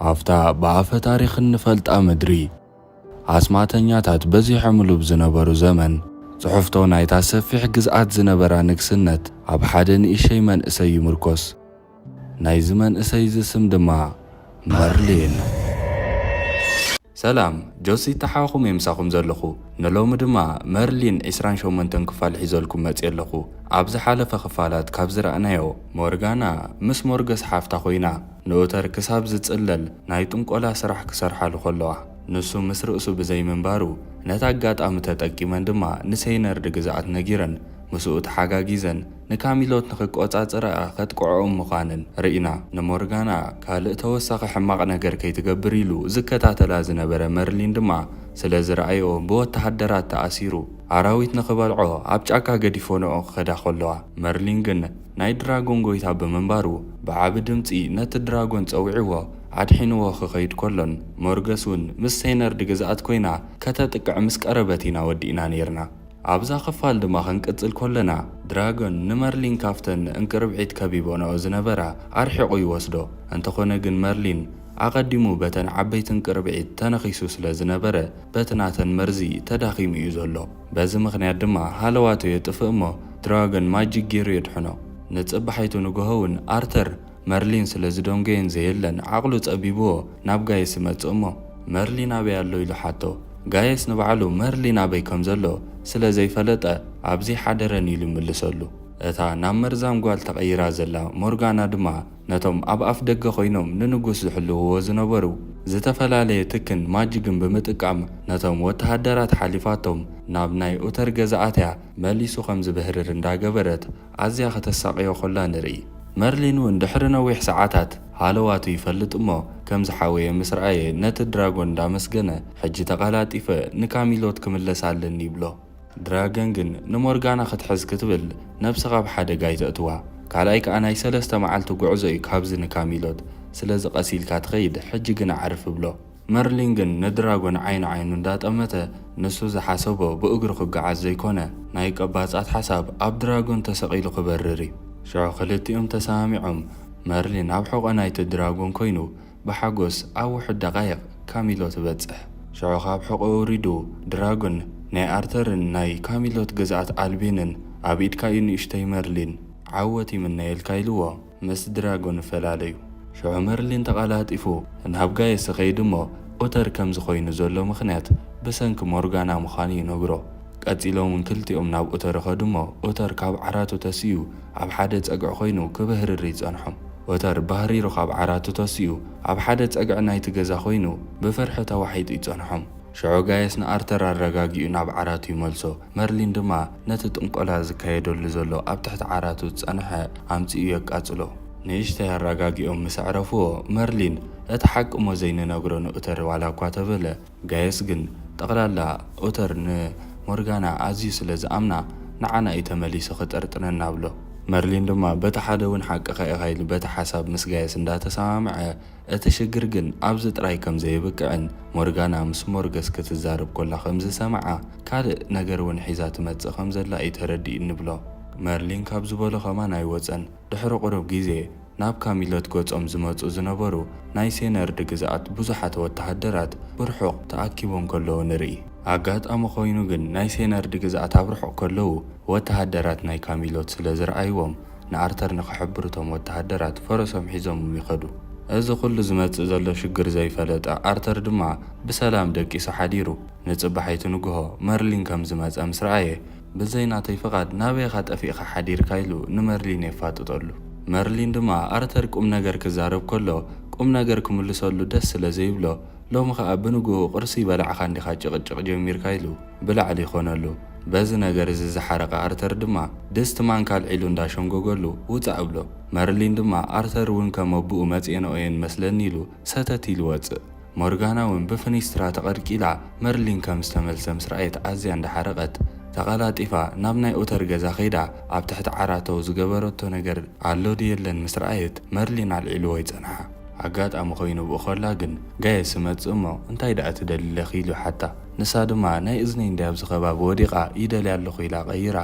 ኣብታ ብኣፈ ታሪኽ እንፈልጣ ምድሪ፣ ኣስማተኛታት በዚሖምሉ ብዝነበሩ ዘመን፣ ጽሑፍቶ ናይታ ሰፊሕ ግዝኣት ዝነበራ ንግስነት ኣብ ሓደ ንእሸይ መንእሰይ ይምርኮስ። ናይዚ መንእሰይዚ ስም ድማ መርሊን። ሰላም ጆሲ ተሓኹም እየ ምሳኹም ዘለኹ ንሎሚ ድማ መርሊን ዕስራን ሸሞንተን ክፋል ሒዘልኩም መጽየ ኣለኹ ኣብ ዝሓለፈ ክፋላት ካብ ዝረኣናዮ ሞርጋና ምስ ሞርገስ ሓፍታ ኮይና ንኡተር ክሳብ ዝጽለል ናይ ጥንቆላ ስራሕ ክሰርሓሉ ከለዋ ንሱ ምስ ርእሱ ብዘይ ምንባሩ ነቲ ኣጋጣሚ ተጠቂመን ድማ ንሰይነርድ ግዝኣት ነጊረን ምስኡ ተሓጋጊዘን ንካሚሎት ንኽቆጻጸራኣ ከጥቅዖኦም ምዃንን ርኢና። ንሞርጋና ካልእ ተወሳኺ ሕማቕ ነገር ከይትገብር ኢሉ ዝከታተላ ዝነበረ መርሊን ድማ ስለ ዝረኣዮ ብወተሃደራት ተኣሲሩ ኣራዊት ንኽበልዖ ኣብ ጫካ ገዲፎንኦ ክኸዳ ከለዋ መርሊን ግን ናይ ድራጎን ጎይታ ብምንባሩ ብዓቢ ድምጺ ነቲ ድራጎን ጸዊዕዎ ኣድሒንዎ ክኸይድ ከሎን ሞርገስ ውን ምስ ሰይነርድ ግዝኣት ኮይና ከተጥቅዕ ምስ ቀረበት ኢና ወዲእና ኔርና። ኣብዛ ክፋል ድማ ክንቅጽል ኮለና ድራጎን ንመርሊን ካብተን እንቅርብዒት ከቢቦንኦ ዝነበራ ኣርሒቑ ይወስዶ። እንተኾነ ግን መርሊን ኣቐዲሙ በተን ዓበይቲ እንቅርብዒት ተነኺሱ ስለ ዝነበረ በቲ ናተን መርዚ ተዳኺሙ እዩ ዘሎ። በዚ ምኽንያት ድማ ሃለዋቱ የጥፍእ'ሞ ድራጎን ማጂክ ጌሩ የድሕኖ። ንጽባሒቱ ንግሆ'ውን ኣርተር መርሊን ስለ ዝደንጎየን ዘየለን ዓቕሉ ጸቢቡዎ ናብ ጋይስ ይመጽእ እሞ መርሊን ኣበይ ኣሎ ኢሉ ሓቶ። ጋይስ ንባዕሉ መርሊን ኣበይ ከም ዘሎ ስለ ዘይፈለጠ ኣብዘይ ሓደረን ኢሉ ይምልሰሉ። እታ ናብ መርዛም ጓል ተቐይራ ዘላ ሞርጋና ድማ ነቶም ኣብ ኣፍ ደገ ኮይኖም ንንጉስ ዝሕልዉዎ ዝነበሩ ዝተፈላለየ ትክን ማጅግን ብምጥቃም ነቶም ወተሃደራት ሓሊፋቶም ናብ ናይ ኡተር ገዛ ኣትያ መሊሱ ከም ዝብህርር እንዳገበረት ኣዝያ ከተሳቕዮ ከላ ንርኢ። መርሊን'ውን ድሕሪ ነዊሕ ሰዓታት ሃለዋቱ ይፈልጥ እሞ ከም ዝሓወየ ምስ ረኣየ ነቲ ድራጎን እንዳመስገነ ሕጂ ተቐላጢፈ ንካሚሎት ክምለስ ኣለኒ ይብሎ። ድራገን ግን ንሞርጋና ክትሕዝ ክትብል ነብሲ ካብ ሓደጋ ኣይተእትዋ። ካልኣይ ከኣ ናይ ሰለስተ መዓልቲ ጉዕዞ'ዩ ካብዚ ንካሚሎት። ስለዚ ቀስ ኢልካ ትኸይድ ሕጂ ግን ኣዕርፍ እብሎ። መርሊን ግን ንድራጎን ዓይኒ ዓይኑ እንዳጠመተ ንሱ ዝሓሰቦ ብእግሩ ክጋዓዝ ዘይኮነ ናይ ቀባጻት ሓሳብ ኣብ ድራጎን ተሰቂሉ ክበርር እዩ ሽዑ ክልቲኦም ተሰማሚዖም መርሊን ኣብ ሑቆ ናይቲ ድራጎን ኮይኑ ብሓጎስ ኣብ ውሑድ ደቃይቅ ካሚሎ ትበጽሕ ሽዑ ካብ ሑቆ ወሪዱ ድራጎን ናይ ኣርተርን ናይ ካሚሎት ግዝኣት ኣልቤንን ኣብ ኢድካ እዩ ንእሽቶይ መርሊን ዓወት ይምነየልካ ኢልዎ። ምስ ድራጎን ፈላለዩ። ሽዑ መርሊን ተቐላጢፉ ናብ ጋየስ እኸይድ እሞ ኡተር ከምዚ ኮይኑ ዘሎ ምኽንያት ብሰንኪ ሞርጋና ምዃኑ ይነግሮ። ቀጺሎም ውን ክልቲኦም ናብ ኡተር እኸዱ እሞ ኡተር ካብ ዓራቱ ተሲኡ ኣብ ሓደ ጸግዒ ኮይኑ ክብህርር ይጸንሖም። ኡተር ባህሪሩ ካብ ዓራቱ ተሲኡ ኣብ ሓደ ጸግዒ ናይቲ ገዛ ኮይኑ ብፍርሒ ተዋሒጡ ይጸንሖም። ሽዑ ጋየስ ንኣርተር ኣረጋጊኡ ናብ ዓራቱ ይመልሶ። መርሊን ድማ ነቲ ጥንቆላ ዝካየደሉ ዘሎ ኣብ ትሕቲ ዓራቱ ዝጸንሐ ኣምጺኡ የቃጽሎ። ንእሽተይ ኣራጋጊኦም ምስ ኣዕረፍዎ፣ መርሊን እቲ ሓቂ'ሞ ዘይንነግሮ ንኡተር ዋላ'ኳ ተበለ፣ ጋየስ ግን ጠቕላላ ኡተር ንሞርጋና ኣዝዩ ስለ ዝኣምና ንዓና እዩ ተመሊሱ ክጥርጥረና ብሎ። መርሊን ድማ በቲ ሓደ'ውን ሓቅኻ ኢኻ ኢሉ በቲ ሓሳብ ምስ ጋየስ እንዳተሰማምዐ፣ እቲ ሽግር ግን ኣብዚ ጥራይ ከም ዘየብቅዕን፣ ሞርጋና ምስ ሞርገስ ክትዛረብ ኮላ ከም ዝሰምዓ፣ ካልእ ነገር ውን ሒዛ ትመጽእ ከም ዘላ እዩ ተረዲኡ እንብሎ። መርሊን ካብ ዝበሎ ከማን ኣይወጸን። ድሕሪ ቁሩብ ግዜ፣ ናብ ካሚሎት ገጾም ዝመጹ ዝነበሩ ናይ ሴነርድ ግዝኣት ብዙሓት ወተሃደራት ብርሑቕ ተኣኪቦም ከለዉ ንርኢ። ኣጋጣሚ ኮይኑ ግን ናይ ሴነርድ ግዝኣት ኣብ ርሑቕ ከለዉ ወተሃደራት ናይ ካሚሎት ስለ ዝረኣይዎም፣ ንኣርተር ንክሕብሩ እቶም ወተሃደራት ፈረሶም ሒዞምም ይኸዱ። እዚ ኩሉ ዝመጽእ ዘሎ ሽግር ዘይፈለጠ ኣርተር ድማ ብሰላም ደቂሱ ሓዲሩ ንጽባሒቱ ንግሆ መርሊን ከም ዝመጸ ምስ ረኣየ ብዘይ ናተይ ፍቓድ ናበይ ኢኻ ጠፊእኻ ሓዲርካ ኢሉ ንመርሊን የፋጥጠሉ። መርሊን ድማ ኣርተር ቁምነገር ክዛረብ ከሎ ቁምነገር ክምልሰሉ ደስ ስለ ዘይብሎ ሎሚ ከኣ ብንግኡ ቁርሲ በላዕካ እንዲኻ ጭቕጭቕ ጀሚርካ ኢሉ ብላዕሊ ኮነሉ። በዚ ነገር እዚ ዝሓረቐ ኣርተር ድማ ድስቲ ማንካ ኣልዒሉ እንዳሸምጎገሉ ውጻእ እብሎ። መርሊን ድማ ኣርተር እውን ከም ኣቡኡ መጼንኦ እየን መስለኒ ኢሉ ሰተት ኢሉ ይወጽእ። ሞርጋና እውን ብፍኒስትራ ተቐልቂላ መርሊን ከም ዝተመልሰ ምስ ረኣየት ኣዝያ እንዳሓረቐት ተቐላጢፋ ናብ ናይ ኡተር ገዛ ከይዳ ኣብ ትሕቲ ዓራተኡ ዝገበረቶ ነገር ኣሎ ድዩ የለን ምስ ረኣየት መርሊን ኣልዒልዎ ይጸንሓ። ኣጋጣሚ ኮይኑ ብኡ ከላ ግን ጋይስ እመጽእ እሞ እንታይ ደኣ ትደሊ ለኺ ኢሉ ሓታ። ንሳ ድማ ናይ እዝነይ እንድያ ኣብዚ ከባቢ ወዲቓ ይደልያ ኣለኹ ኢላ ቀይራ።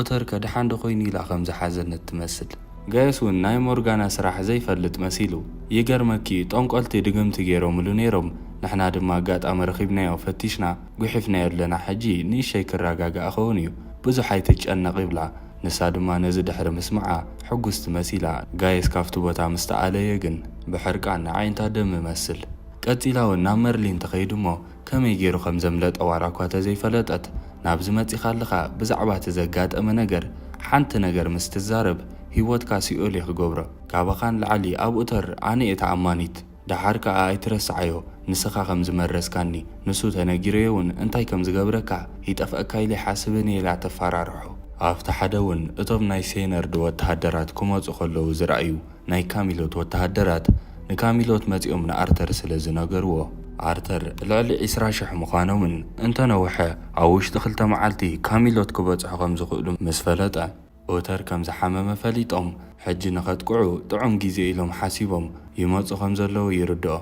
ኦተርከ ደሓን ዶ ኮይኑ ኢላ ከም ዝሓዘነት ትመስል። ጋይስ ውን ናይ ሞርጋና ስራሕ ዘይፈልጥ መሲሉ። ይገርመኪ እዩ ጦንቆልቲ ድግምቲ ጌሮምሉ ኔሮም ንሕና ድማ ኣጋጣሚ ረኺብናዮ ፈቲሽና ጉሒፍናዮ ኣለና ሕጂ ንእሸይ ክራጋጋእ ኸውን እዩ ብዙሕ ኣይትጨነቕ ይብላ። ንሳ ድማ ነዚ ድሕሪ ምስምዓ ሕጉስቲ መሲላ። ጋይስ ካብቲ ቦታ ምስ ተኣለየ ግን ብሕርቃን ንኣዒንታ ደም እመስል። ቀጺላ ውን ናብ መርሊን ትኸይድ እሞ ከመይ ጌሩ ከም ዘምለጠ ዋላ እኳ ተዘይፈለጠት ናብዚ መጺኻ ኣለኻ ብዛዕባ እቲ ዘጋጠመ ነገር ሓንቲ ነገር ምስ ትዛረብ ሂወትካ ሲኦል እየ ክገብሮ ካባኻ ንላዕሊ ኣብኡ ተር ኣነ እየ ተኣማኒት ደሓር ከኣ ኣይትረስዓዮ ንስኻ ከም ዝመረዝካኒ ንሱ ተነጊሩዮ ውን እንታይ ከም ዝገብረካ ይጠፍኣካ ኢለ ይሓስብን ኢየ ኢላ ተፋራርሖ። ኣብቲ ሓደ ውን እቶም ናይ ሴነርድ ወተሃደራት ክመጹ ከለዉ ዝረኣዩ ናይ ካሚሎት ወተሃደራት ንካሚሎት መጺኦም ንኣርተር ስለ ዝነገርዎ፣ ኣርተር ልዕሊ ዕስራ ሽሕ ምዃኖምን እንተ ነውሐ ኣብ ውሽጢ ክልተ መዓልቲ ካሚሎት ክበጽሑ ከም ዝኽእሉ ምስ ፈለጠ፣ ኦተር ከም ዝሓመመ ፈሊጦም ሕጂ ንኸጥቅዑ ጥዑም ግዜ ኢሎም ሓሲቦም ይመጹ ከም ዘለዉ ይርድኦ።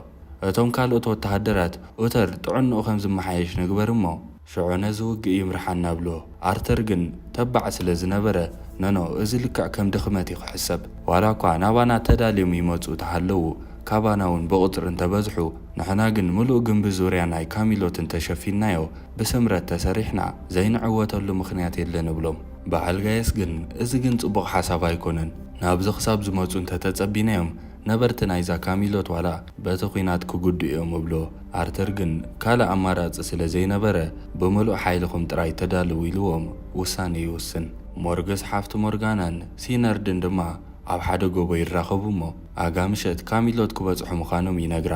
እቶም ካልኦት ወተሃደራት፣ ኦተር ጥዕንኡ ከም ዝመሓየሽ ንግበር እሞ። ሽዑ ነዚ ውግእ ይምርሓና እብሎ። ኣርተር ግን ተባዕ ስለ ዝነበረ፣ ኖኖ እዚ ልክዕ ከም ድኽመት እዩ ክሕሰብ። ዋላ እኳ ናባና ተዳልዮም ይመጹ ተሃለዉ፣ ካባና እውን ብቑጽሪ እንተ በዝሑ፣ ንሕና ግን ምሉእ ግምቢ ዙርያ ናይ ካሚሎትን ተሸፊንናዮ፣ ብስምረት ተሰሪሕና ዘይንዕወተሉ ምኽንያት የለን እብሎም። በዓል ጋይስ ግን እዚ ግን ጽቡቕ ሓሳብ ኣይኮነን ናብዚ ክሳብ ዝመጹ እንተተጸቢናዮም ነበርቲ ናይዛ ካሚሎት ዋላ በቲ ኹናት ክጉድኡ እዮም እብሎ ኣርተር ግን ካልእ ኣማራጺ ስለ ዘይነበረ ብምሉእ ሓይልኹም ጥራይ ተዳለዉ ኢልዎም ውሳኔ ይውስን ሞርግስ ሓፍቲ ሞርጋናን ሲነርድን ድማ ኣብ ሓደ ጎቦ ይራኸቡ እሞ ኣጋ ምሸት ካሚሎት ክበጽሑ ምዃኖም ይነግራ።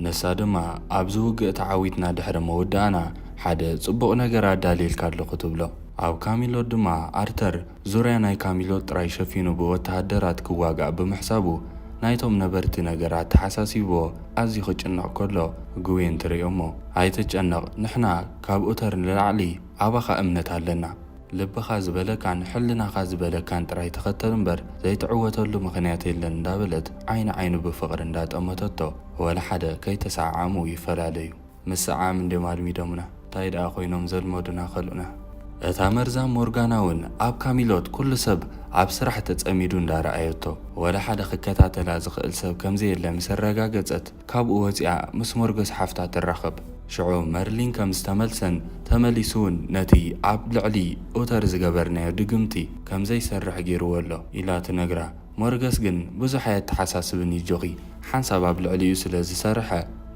ንሳ ድማ ኣብዚ ውግእ ተዓዊትና ድሕሪ ምውዳእና ሓደ ጽቡቕ ነገር ኣዳልየልካ ኣለኹ ትብሎ። ኣብ ካሚሎት ድማ ኣርተር ዙርያ ናይ ካሚሎት ጥራይ ሸፊኑ ብወተሃደራት ክዋጋእ ብምሕሳቡ ናይቶም ነበርቲ ነገር ኣተሓሳሲብዎ ኣዝዩ ክጭነቕ ከሎ ግዌን ትርእዮ'ሞ ኣይትጨነቕ ንሕና ካብ ኡተር ንላዕሊ ኣባኻ እምነት ኣለና ልብኻ ዝበለካን ሕልናኻ ዝበለካን ጥራይ ተኸተል እምበር ዘይትዕወተሉ ምኽንያት የለን እንዳበለት ዓይኒ ዓይኑ ብፍቕሪ እንዳጠመተቶ ወላ ሓደ ከይተሰዓዓሙ ይፈላለዩ። ምስዓዓም እንድዮም ኣልሚዶምና ታይ ድኣ ኮይኖም ዘልመዱና ከልኡና። እታ መርዛም ሞርጋና ውን ኣብ ካሚሎት ኩሉ ሰብ ኣብ ስራሕ ተጸሚዱ እንዳረኣየቶ ወላ ሓደ ክከታተላ ዝኽእል ሰብ ከምዘየለ ምስ ኣረጋገጸት፣ ካብኡ ወጺኣ ምስ ሞርገስ ሓፍታ ትራኸብ። ሽዑ መርሊን ከም ዝተመልሰን ተመሊሱ'ውን ነቲ ኣብ ልዕሊ ኡተር ዝገበርናዮ ድግምቲ ከም ዘይሰርሕ ገይሩዎ ኣሎ ኢላ ትነግራ። ሞርገስ ግን ብዙሕ ኣየተሓሳስብን እዩ ጆኺ ሓንሳብ ኣብ ልዕሊኡ ስለ ዝሰርሐ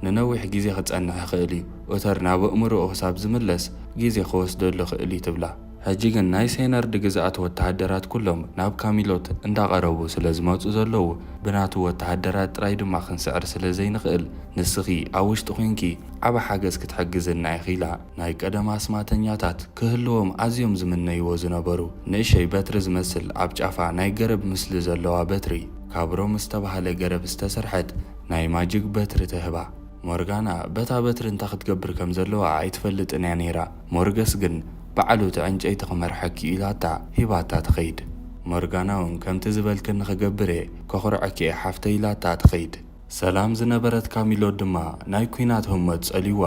ንነዊሕ ግዜ ክጸንሕ ይኽእል እዩ፣ ኡተር ናብ ኣእምሮኡ ክሳብ ዝምለስ ግዜ ክወስደሉ ይኽእል'ዩ ትብላ። ሕጂ ግን ናይ ሰይነርድ ግዝኣት ወተሃደራት ኩሎም ናብ ካሚሎት እንዳ ቀረቡ ስለ ዝመጹ ዘለዉ ብናቱ ወተሃደራት ጥራይ ድማ ክንስዕር ስለ ዘይንኽእል ንስኺ ኣብ ውሽጢ ኮንኪ ዓቢ ሓገዝ ክትሕግዝና ኢኺ ኢላ ናይ ቀደም ኣስማተኛታት ክህልዎም ኣዝዮም ዝምነይዎ ዝነበሩ ንእሸይ በትሪ ዝመስል ኣብ ጫፋ ናይ ገረብ ምስሊ ዘለዋ በትሪ ካብ ሮም ዝተባህለ ገረብ ዝተሰርሐት ናይ ማጅግ በትሪ ትህባ። ሞርጋና በታ በትሪ እንታይ ክትገብር ከም ዘለዋ ኣይትፈልጥን እያ ነይራ፣ ሞርገስ ግን ባዕሉ እቲ ዕንጨይቲ ክመርሐኪ'ዩ ኢላታ ሂባታ ትኸይድ። ሞርጋና'ውን ከምቲ ዝበልክኒ ክገብር እየ፣ ከኹርዐኪ እየ ሓፍተይ ኢላታ ትኸይድ። ሰላም ዝነበረት ካሚሎ ድማ ናይ ኲናት ህሞት ጸልዩዋ፣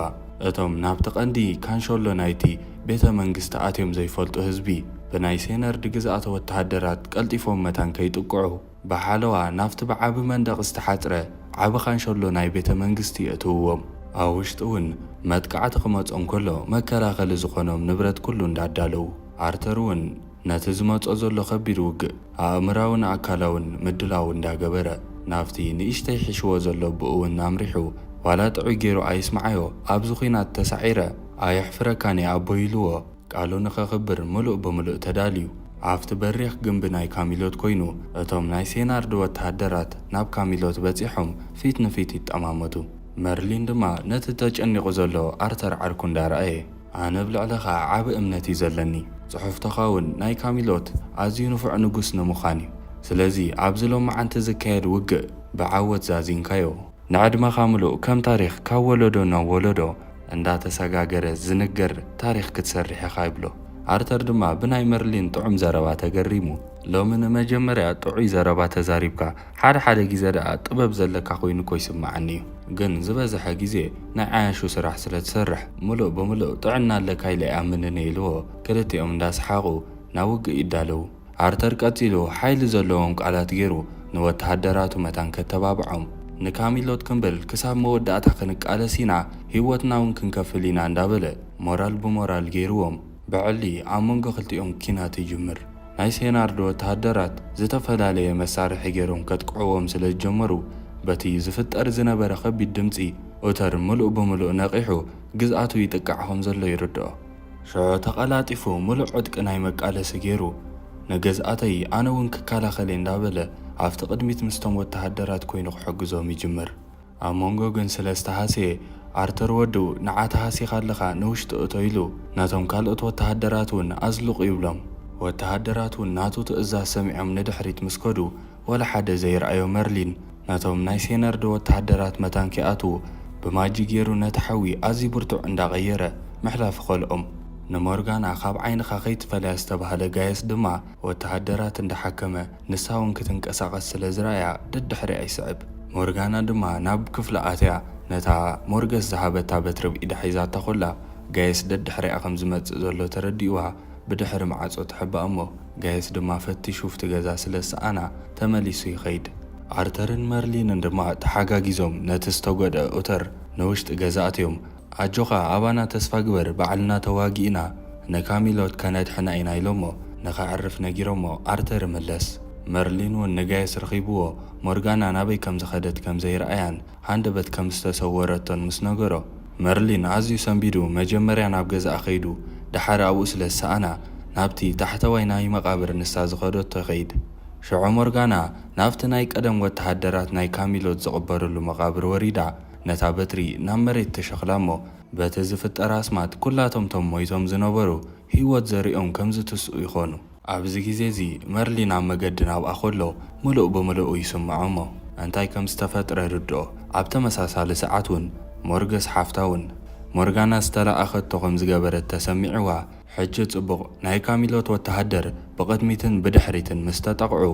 እቶም ናብቲ ቀንዲ ካንሸሎ ናይቲ ቤተ መንግስቲ ኣትዮም ዘይፈልጡ ህዝቢ፣ ብናይ ሴነርድ ግዝኣተ ወተሃደራት ቀልጢፎም መታን ከይጥቅዑ፣ ብሓለዋ ናብቲ ብዓቢ መንደቕ ዝተሓጽረ ዓቢ ካንሸሎ ናይ ቤተ መንግስቲ የእትውዎም። ኣብ ውሽጢ እውን መጥቃዕቲ ክመጾም ከሎ መከላኸሊ ዝኾኖም ንብረት ኩሉ እንዳዳለዉ፣ ኣርተር እውን ነቲ ዝመጾ ዘሎ ከቢድ ውግእ ኣእምራውን ኣካላውን ምድላው እንዳገበረ ናብቲ ንእሽተይ ሒሽዎ ዘሎ ኣቦኡ እውን ኣምሪሑ ዋላ ጥዑይ ገይሩ ኣይስምዓዮ ኣብዚ ኩናት ተሳዒረ ኣየሕፍረካን እየ ኣቦይ ኢልዎ ቃሉ ንኸኽብር ምሉእ ብምሉእ ተዳልዩ፣ ኣብቲ በሪኽ ግምቢ ናይ ካሚሎት ኮይኑ፣ እቶም ናይ ሴናርድ ወተሃደራት ናብ ካሚሎት በጺሖም ፊት ንፊት ይጠማመቱ። መርሊን ድማ ነቲ ተጨኒቑ ዘሎ ኣርተር ዓርኩ እንዳረኣየ፣ ኣነ ኣብ ልዕለኻ ዓቢ እምነት እዩ ዘለኒ። ጽሑፍቶኻውን ናይ ካሚሎት ኣዝዩ ንፉዕ ንጉስ ንምዃን እዩ። ስለዚ ኣብዚ ሎምዓንቲ ዝካየድ ውግእ ብዓወት ዛዚምካዮ። ንዕድመኻ ምሉእ ከም ታሪኽ ካብ ወለዶ ናብ ወለዶ እንዳተሰጋገረ ዝንገር ታሪኽ ክትሰርሕ ኢኻ ይብሎ። ኣርተር ድማ ብናይ መርሊን ጥዑም ዘረባ ተገሪሙ። ሎሚ ንመጀመርያ ጥዑይ ዘረባ ተዛሪብካ። ሓደ ሓደ ግዜ ደኣ ጥበብ ዘለካ ኮይኑ እኮ ይስመዓኒ እዩ። ግን ዝበዘሐ ግዜ ናይ ዓያሹ ስራሕ ስለ ትሰርሕ ምሉእ ብምሉእ ጥዕና ኣለካ ኢለ ኣይኣምንን እየ ኢልዎ። ክልቲኦም እንዳሰሓቑ ናብ ውግእ ይዳለዉ። ኣርተር ቀጺሉ ሓይሊ ዘለዎም ቃላት ገይሩ ንወተሃደራቱ መታን ከተባብዖም፣ ንካሚሎት ክንብል ክሳብ መወዳእታ ክንቃለስ ኢና፣ ህይወትና'ውን ክንከፍል ኢና እንዳበለ ሞራል ብሞራል ገይሩዎም ብዕሊ ኣብ መንጎ ክልቲኦም ኲናት ይጅምር። ናይ ሴናርድ ወተሃደራት ዝተፈላለየ መሳርሒ ገይሮም ከጥቅዑዎም ስለ ዝጀመሩ በቲ ዝፍጠር ዝነበረ ከቢድ ድምጺ ኡተር ምሉእ ብምሉእ ነቒሑ ግዝኣቱ ይጥቃዕ ከም ዘሎ ይርድኦ። ሸዑ ተቐላጢፉ ምሉእ ዕጥቂ ናይ መቃለሲ ገይሩ፣ ንገዝኣተይ ኣነ'ውን ክከላኸል'የ እንዳበለ ኣብቲ ቅድሚት ምስቶም ወተሃደራት ኮይኑ ክሕግዞም ይጅምር። ኣብ መንጎ ግን ስለ ዝተሃስየ፣ ኣርተር ወዱ ንዓ ተሃሲኻ ኣለኻ ንውሽጢ እቶ ኢሉ ነቶም ካልኦት ወተሃደራት'ውን ኣዝልቑ ይብሎም። ወተሃደራት'ውን ናቱ ትእዛዝ ሰሚዖም ንድሕሪት ምስ ከዱ፣ ወላ ሓደ ዘይርኣዮ መርሊን ነቶም ናይ ሴነርዶ ወተሃደራት መታን ኪኣትዉ ብማጂክ ጌሩ ነቲ ሓዊ ኣዝዩ ብርቱዕ እንዳ ቀየረ ምሕላፉ ከልኦም። ንሞርጋና ካብ ዓይንኻ ከይትፈልያ ዝተባህለ ጋየስ ድማ ወተሃደራት እንዳ ሓከመ ንሳ ውን ክትንቀሳቐስ ስለ ዝረኣያ ደድሕሪኣ ይስዕብ። ሞርጋና ድማ ናብ ክፍላ ኣትያ ነታ ሞርገስ ዝሃበታ በትሪ ብ ኢዳ ሒዛታ ኮላ ጋየስ ደድሕሪኣ ከም ዝመጽእ ዘሎ ተረዲእዋ ብድሕሪ መዓጾ ትሕባእ እሞ ጋይስ ድማ ፈትሹ ኣብቲ ገዛ ስለ ዝሰኣና ተመሊሱ ይኸይድ። ኣርተርን መርሊንን ድማ ተሓጋጊዞም ነቲ ዝተጎድኣ ኡተር ንውሽጢ ገዛ ኣእትዮም ኣጆኻ ኣባና ተስፋ ግበር ባዕልና ተዋጊእና ንካሚሎት ከነድሕና ኢና ኢሎሞ ንኸዕርፍ ነጊሮሞ ኣርተር ይምለስ መርሊን ውን ንጋይስ ረኺብዎ ሞርጋና ናበይ ከም ዝኸደት ከም ዘይረኣያን ሃንደበት ከም ዝተሰወረቶን ምስ ነገሮ፣ መርሊን ኣዝዩ ሰንቢዱ መጀመርያ ናብ ገዝኣ ከይዱ ደሓር ኣብኡ ስለ ዝሰኣና ናብቲ ታሕተዋይ ናይ መቓብር ንሳ ዝኸደቶ ይኸይድ። ሽዑ ሞርጋና ናብቲ ናይ ቀደም ወተሃደራት ናይ ካሚሎት ዝቕበርሉ መቓብር ወሪዳ ነታ በትሪ ናብ መሬት ትሸኽላ'ሞ በቲ ዝፍጠር ኣስማት ኩላቶም እቶም ሞይቶም ዝነበሩ ህይወት ዘርእዮም ከም ዝትስኡ ይኾኑ። ኣብዚ ግዜ እዚ መርሊን ኣብ መገዲ ናብኣ ከሎ ምሉእ ብምልኡ ይስምዖ እሞ እንታይ ከም ዝተፈጥረ ይርድኦ። ኣብ ተመሳሳሊ ሰዓት ውን ሞርገስ ሓፍታ ውን ሞርጋና ዝተላኣኸቶ ከም ዝገበረት ተሰሚዕዋ። ሕጂ ጽቡቕ ናይ ካሚሎት ወተሃደር ብቕድሚትን ብድሕሪትን ምስ ተጠቕዑ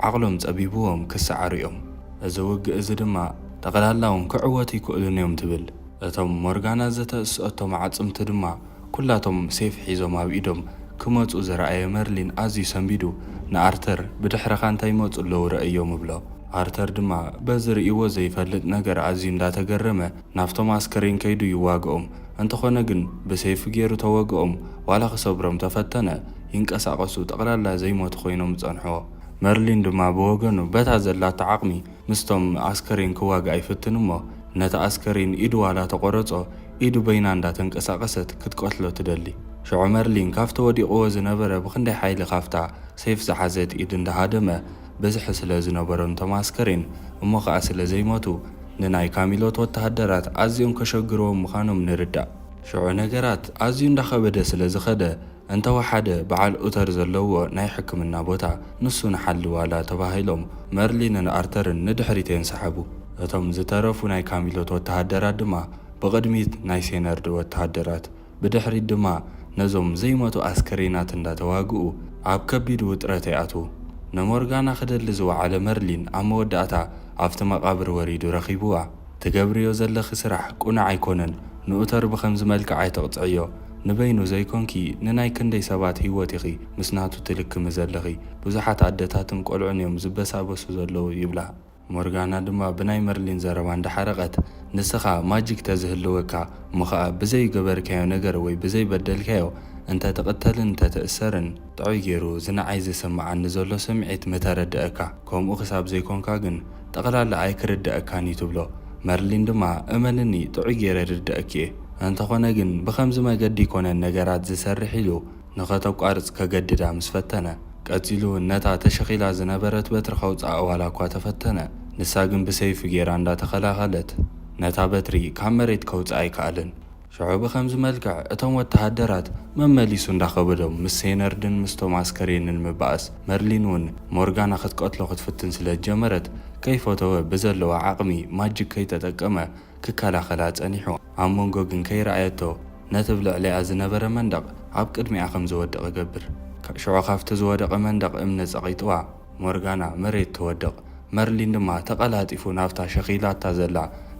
ዓቕሎም ጸቢብዎም ክሰዓሩ እዮም። እዚ ውግእ እዚ ድማ ጠቕላላ ውን ክዕወቱ ኣይክእሉን እዮም ትብል። እቶም ሞርጋና ዝተእስኦቶም ኣዕጽምቲ ድማ ኩላቶም ሴፍ ሒዞም ኣብ ኢዶም ክመጹ ዝረኣየ መርሊን ኣዝዩ ሰንቢዱ ንኣርተር ብድሕረኻ እንታይ ይመጹ ኣለዉ ረኣዮም እብሎ። ኣርተር ድማ በዚ ርእይዎ ዘይፈልጥ ነገር ኣዝዩ እንዳተገረመ ናብቶም ኣስከሬን ከይዱ ይዋግኦም እንተኾነ ግን ብሴፍ ጌሩ ተወግኦም ዋላ ክሰብሮም ተፈተነ ይንቀሳቀሱ ጠቅላላ ዘይሞቱ ኮይኖም ጸንሕዎ መርሊን ድማ ብወገኑ በታ ዘላቶ ዓቅሚ ምስቶም ኣስከሬን ክዋጋእ ይፍትን እሞ ነቲ ኣስከሬን ኢዱ ዋላ ተቆረጾ ኢዱ በይና እንዳ ተንቀሳቀሰት ክትቀትሎ ትደሊ ሽዑ መርሊን ካብቲ ወዲቅዎ ዝነበረ ብክንደይ ሓይሊ ካብታ ሴፍ ዝሓዘት ኢድ እንዳሃደመ ብዝሒ ስለ ዝነበሮም እቶም ኣስከሬን እሞ ከኣ ስለ ዘይሞቱ ንናይ ካሚሎት ወተሃደራት ኣዝዮም ከሸግርዎም ምካኖም ንርዳእ ሽዑ ነገራት ኣዝዩ እንዳከበደ ስለ ዝከደ እንተወሓደ በዓል ኡተር ዘለዎ ናይ ሕክምና ቦታ ንሱ ንሓሊ ዋላ ተባሂሎም መርሊንን ኣርተርን ንድሕሪት የንሳሓቡ። እቶም ዝተረፉ ናይ ካሚሎት ወተሃደራት ድማ ብቕድሚት ናይ ሴነርድ ወተሃደራት ብድሕሪት ድማ ነዞም ዘይሞቱ ኣስከሬናት እንዳተዋግኡ ኣብ ከቢድ ውጥረት ይኣትዉ። ንሞርጋና ክደሊ ዝወዓለ መርሊን ኣብ መወዳእታ ኣብቲ መቓብር ወሪዱ ረኺብዋ። ትገብርዮ ዘለኺ ስራሕ ቁኑዕ ኣይኮነን ንኡተር ብኸምዚ መልክዕ ኣይተቅጽዕዮ ንበይኑ ዘይኮንኪ ንናይ ክንደይ ሰባት ሂወት ኢኺ ምስ ናቱ ትልክሚ ዘለኺ ብዙሓት ኣደታትን ቆልዑን እዮም ዝበሳበሱ ዘለዉ ይብላ ሞርጋና ድማ ብናይ መርሊን ዘረባ እንዳሓረቀት ንስኻ ማጂክ ተዝህልወካ እሞ ኸኣ ብዘይገበርካዮ ነገር ወይ ብዘይበደልካዮ እንተ ትቅተልን እንተ ትእሰርን ጥዑይ ጌሩ እዚ ንዓይ ዘሰመዓኒ ዘሎ ስምዒት ምተረደኣካ ከምኡ ክሳብ ዘይኮንካ ግን ጠቅላላ ኣይክርደኣካን እዩ ትብሎ መርሊን ድማ እመንኒ ጥዑይ ጌረ ይርደኣኪ እየ እንተኾነ ግን ብከምዚ መገዲ ኣይኮነን ነገራት ዝሰርሕ ኢሉ ንከተቋርጽ ከገድዳ ምስ ፈተነ ቀጺሉ ውን ነታ ተሸኺላ ዝነበረት በትሪ ከውጽኣ ዋላ እኳ ተፈተነ ንሳ ግን ብሰይፉ ጌራ እንዳተኸላኸለት ነታ በትሪ ካብ መሬት ከውጽኣ ኣይከኣለን ሽዑ ብኸምዚ መልክዕ እቶም ወተሃደራት መመሊሱ እንዳኸበዶም ምስ ሴነርድን ምስቶም ኣስከሬንን ምባኣስ፣ መርሊን ውን ሞርጋና ክትቀትሎ ክትፍትን ስለ ዝጀመረት ከይፈተወ ብዘለዎ ዓቕሚ ማጂክ ከይተጠቀመ ክከላኸላ ጸኒሑ ኣብ መንጎ ግን ከይረኣየቶ ነቲ ብ ልዕሊኣ ዝነበረ መንደቕ ኣብ ቅድሚኣ ከም ዝወድቕ ይገብር ሽዑ ካብቲ ዝወደቐ መንደቕ እምኒ ጸቒጥዋ ሞርጋና መሬት ትወድቕ፣ መርሊን ድማ ተቐላጢፉ ናብታ ሸኺላታ ዘላ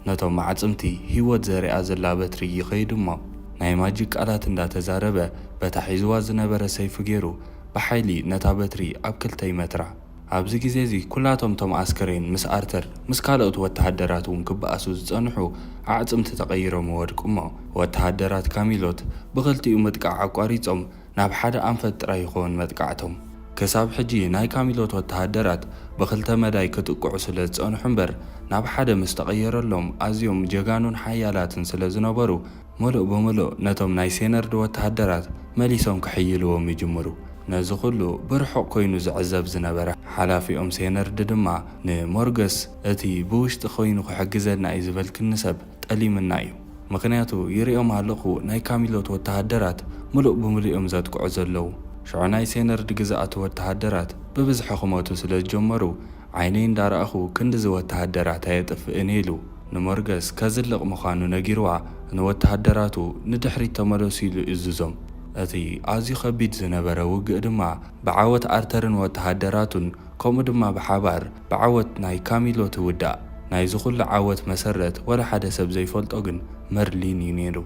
ነቶም ኣዕጽምቲ ህይወት ዘሪኣ ዘላ በትሪ ይኸይድ'ሞ ናይ ማጂክ ቃላት እንዳ ተዛረበ በታ ሒዝዋ ዝነበረ ሰይፉ ጌሩ ብሓይሊ ነታ በትሪ ኣብ ክልተ ይመትራ። ኣብዚ ግዜ'ዚ ኩላቶም እቶም ኣስከሬን ምስ ኣርተር ምስ ካልኦት ወተሃደራት እውን ክበኣሱ ዝጸንሑ ኣዕጽምቲ ተቐይሮም ይወድቁ'ሞ ወተሃደራት ካሚሎት ብኽልቲኡ ምጥቃዕ ኣቋሪጾም ናብ ሓደ ኣንፈት ጥራይ ይኸውን መጥቃዕቶም። ከሳብ ሕጂ ናይ ካሚሎት ወተሃደራት ብክልተ መዳይ ክጥቅዑ ስለ ዝጸንሑ እምበር ናብ ሓደ ምስ ተቐየረሎም ኣዝዮም ጀጋኑን ሓያላትን ስለ ዝነበሩ ምሉእ ብምሉእ ነቶም ናይ ሴነርድ ወተሃደራት መሊሶም ክሕይልዎም ይጅምሩ። ነዚ ኩሉ ብርሑቕ ኮይኑ ዝዕዘብ ዝነበረ ሓላፊኦም ሴነርድ ድማ ንሞርገስ እቲ ብውሽጢ ኮይኑ ክሕግዘና እዩ ዝበልክኒ ሰብ ጠሊምና እዩ ምክንያቱ ይሪኦም ኣለኩ ናይ ካሚሎት ወተሃደራት ምሉእ ብምሉእ እዮም ዘጥቅዑ ዘለዉ ሽዑ ናይ ሴነርድ ግዛኣት ወተሃደራት ብብዝሒ ክመቱ ስለ ዝጀመሩ ዓይነይ እንዳራኣኩ ክንድዚ ወተሃደራት ኣየጥፍእን ኢሉ ንሞርገስ ከዝልቅ ምካኑ ነጊርዋ ንወተሃደራቱ ንድሕሪት ተመለሱ ኢሉ እዙዞም እቲ ኣዝዩ ከቢድ ዝነበረ ውግእ ድማ ብዓወት ኣርተርን ወተሃደራቱን ከምኡ ድማ ብሓባር ብዓወት ናይ ካሚሎ ትውዳእ። ናይዚ ኩሉ ዓወት መሰረት ወላ ሓደ ሰብ ዘይፈልጦ ግን መርሊን እዩ ነይሩ።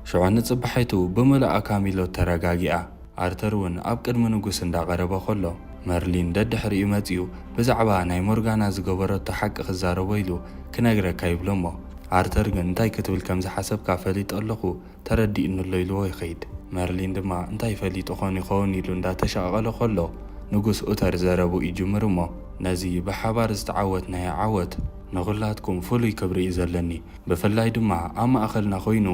ሽዑ ንጽባሒቱ ብምሉኣ ካሚሎ ተረጋጊኣ። ኣርተር እውን ኣብ ቅድሚ ንጉስ እንዳቐረበ ከሎ መርሊን ደድሕሪኡ መጺኡ ብዛዕባ ናይ ሞርጋና ዝገበረቶ ሓቂ ክዛረቦ ኢሉ ክነግረካ ይብሎ'ሞ ኣርተር ግን እንታይ ክትብል ከም ዝሓሰብካ ፈሊጠ ኣለኹ ተረዲኡኒ'ሎ ኢልዎ ይኸይድ። መርሊን ድማ እንታይ ፈሊጡ ኮን ይኸውን ኢሉ እንዳተሻቐለ ከሎ ንጉስ ኡተር ዘረብኡ ይጅምር እሞ ነዚ ብሓባር ዝተዓወትናዮ ዓወት ንኹላትኩም ፍሉይ ክብሪ እዩ ዘለኒ ብፍላይ ድማ ኣብ ማእኸልና ኮይኑ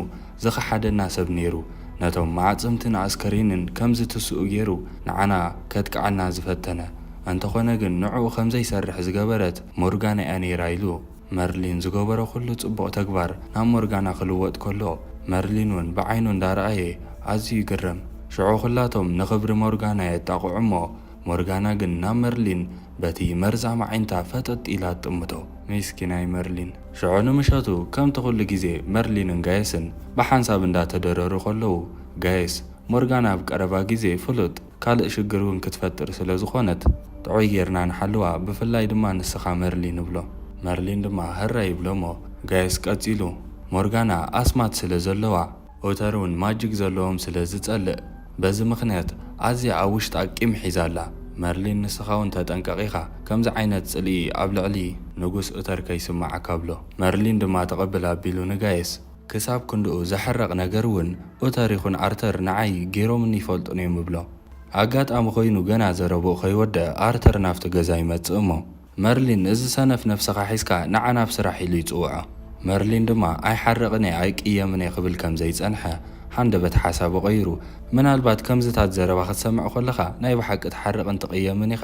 ዝኸሓደና ሰብ ነይሩ ነቶም መዓጽምትን ኣስከሬንን ከም ዝትስኡ ገይሩ ንዓና ከጥቅዓና ዝፈተነ እንተኾነ ግን ንዕኡ ከም ዘይሰርሕ ዝገበረት ሞርጋና እያ ነይራ ኢሉ መርሊን ዝገበሮ ኩሉ ጽቡቕ ተግባር ናብ ሞርጋና ክልወጥ ከሎ መርሊን ውን ብዓይኑ እንዳ ረኣየ ኣዝዩ ይግረም። ሽዑ ኩላቶም ንኽብሪ ሞርጋና የጣቕዑ እሞ ሞርጋና ግን ናብ መርሊን በቲ መርዛም ኣዒንታ ፈጠጥ ኢላ ትጥምቶ። ሚስኪናይ መርሊን። ሽዑ ንምሸቱ ከምቲ ኩሉ ግዜ መርሊንን ጋየስን ብሓንሳብ እንዳ ተደረሩ ከለዉ ጋየስ፣ ሞርጋና ኣብ ቀረባ ግዜ ፍሉጥ። ካልእ ሽግር ውን ክትፈጥር ስለ ዝኾነት ጥዑይ ጌርና ንሓልዋ ብፍላይ ድማ ንስኻ መርሊን ንብሎ መርሊን ድማ ህራይ ይብሎሞ ጋይስ ቀጺሉ ሞርጋና ኣስማት ስለ ዘለዋ ኦተር ውን ማጂክ ዘለዎም ስለ ዝጸልእ በዚ ምኽንያት ኣዝያ ኣብ ውሽጣ ቂም ሒዛ ኣላ መርሊን ንስኻ ውን ተጠንቀቅ ኢኻ ከምዚ ዓይነት ጽልኢ ኣብ ልዕሊ ንጉስ ኦተር ከይስማዓካ ብሎ መርሊን ድማ ተቀብል ኣቢሉ ንጋይስ ክሳብ ክንድኡ ዘሕርቕ ነገር እውን ኡተር ይኹን ኣርተር ንዓይ ገይሮምኒ ይፈልጡን እዮም እብሎ። ኣጋጣሚ ኮይኑ ገና ዘረብኡ ከይወደኣ ኣርተር ናብቲ ገዛ ይመጽእ እሞ መርሊን ነዚ ሰነፍ ነብስኻ ሒዝካ ንዓ ናብ ስራሕ ኢሉ ይጽውዖ። መርሊን ድማ ኣይሓርቕን እየ ኣይቅየምን እየ ክብል ከም ዘይጸንሐ ሃንደበት ሓሳቡ ቀይሩ ምናልባት ከምዝታት ዘረባ ክትሰምዕ ኮለኻ ናይ ብሓቂ ትሓርቕን ትቕየምን ኢኻ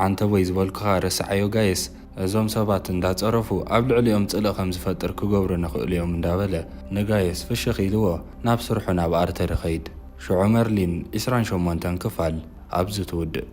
ዓንተቦይ ዝበልኩኻ ረስዓዮ ጋይስ እዞም ሰባት እንዳጸረፉ ኣብ ልዕሊኦም ጽልኢ ከም ዝፈጥር ክገብሩን ይኽእሉ'ዮም እንዳበለ ንጋይስ ፍሽኽ ኢልዎ ናብ ስርሑ ናብ ኣርተር ይኸይድ። ሽዑ መርሊን ዕስራን ሸሞንተን ክፋል ኣብዚ ትውድእ።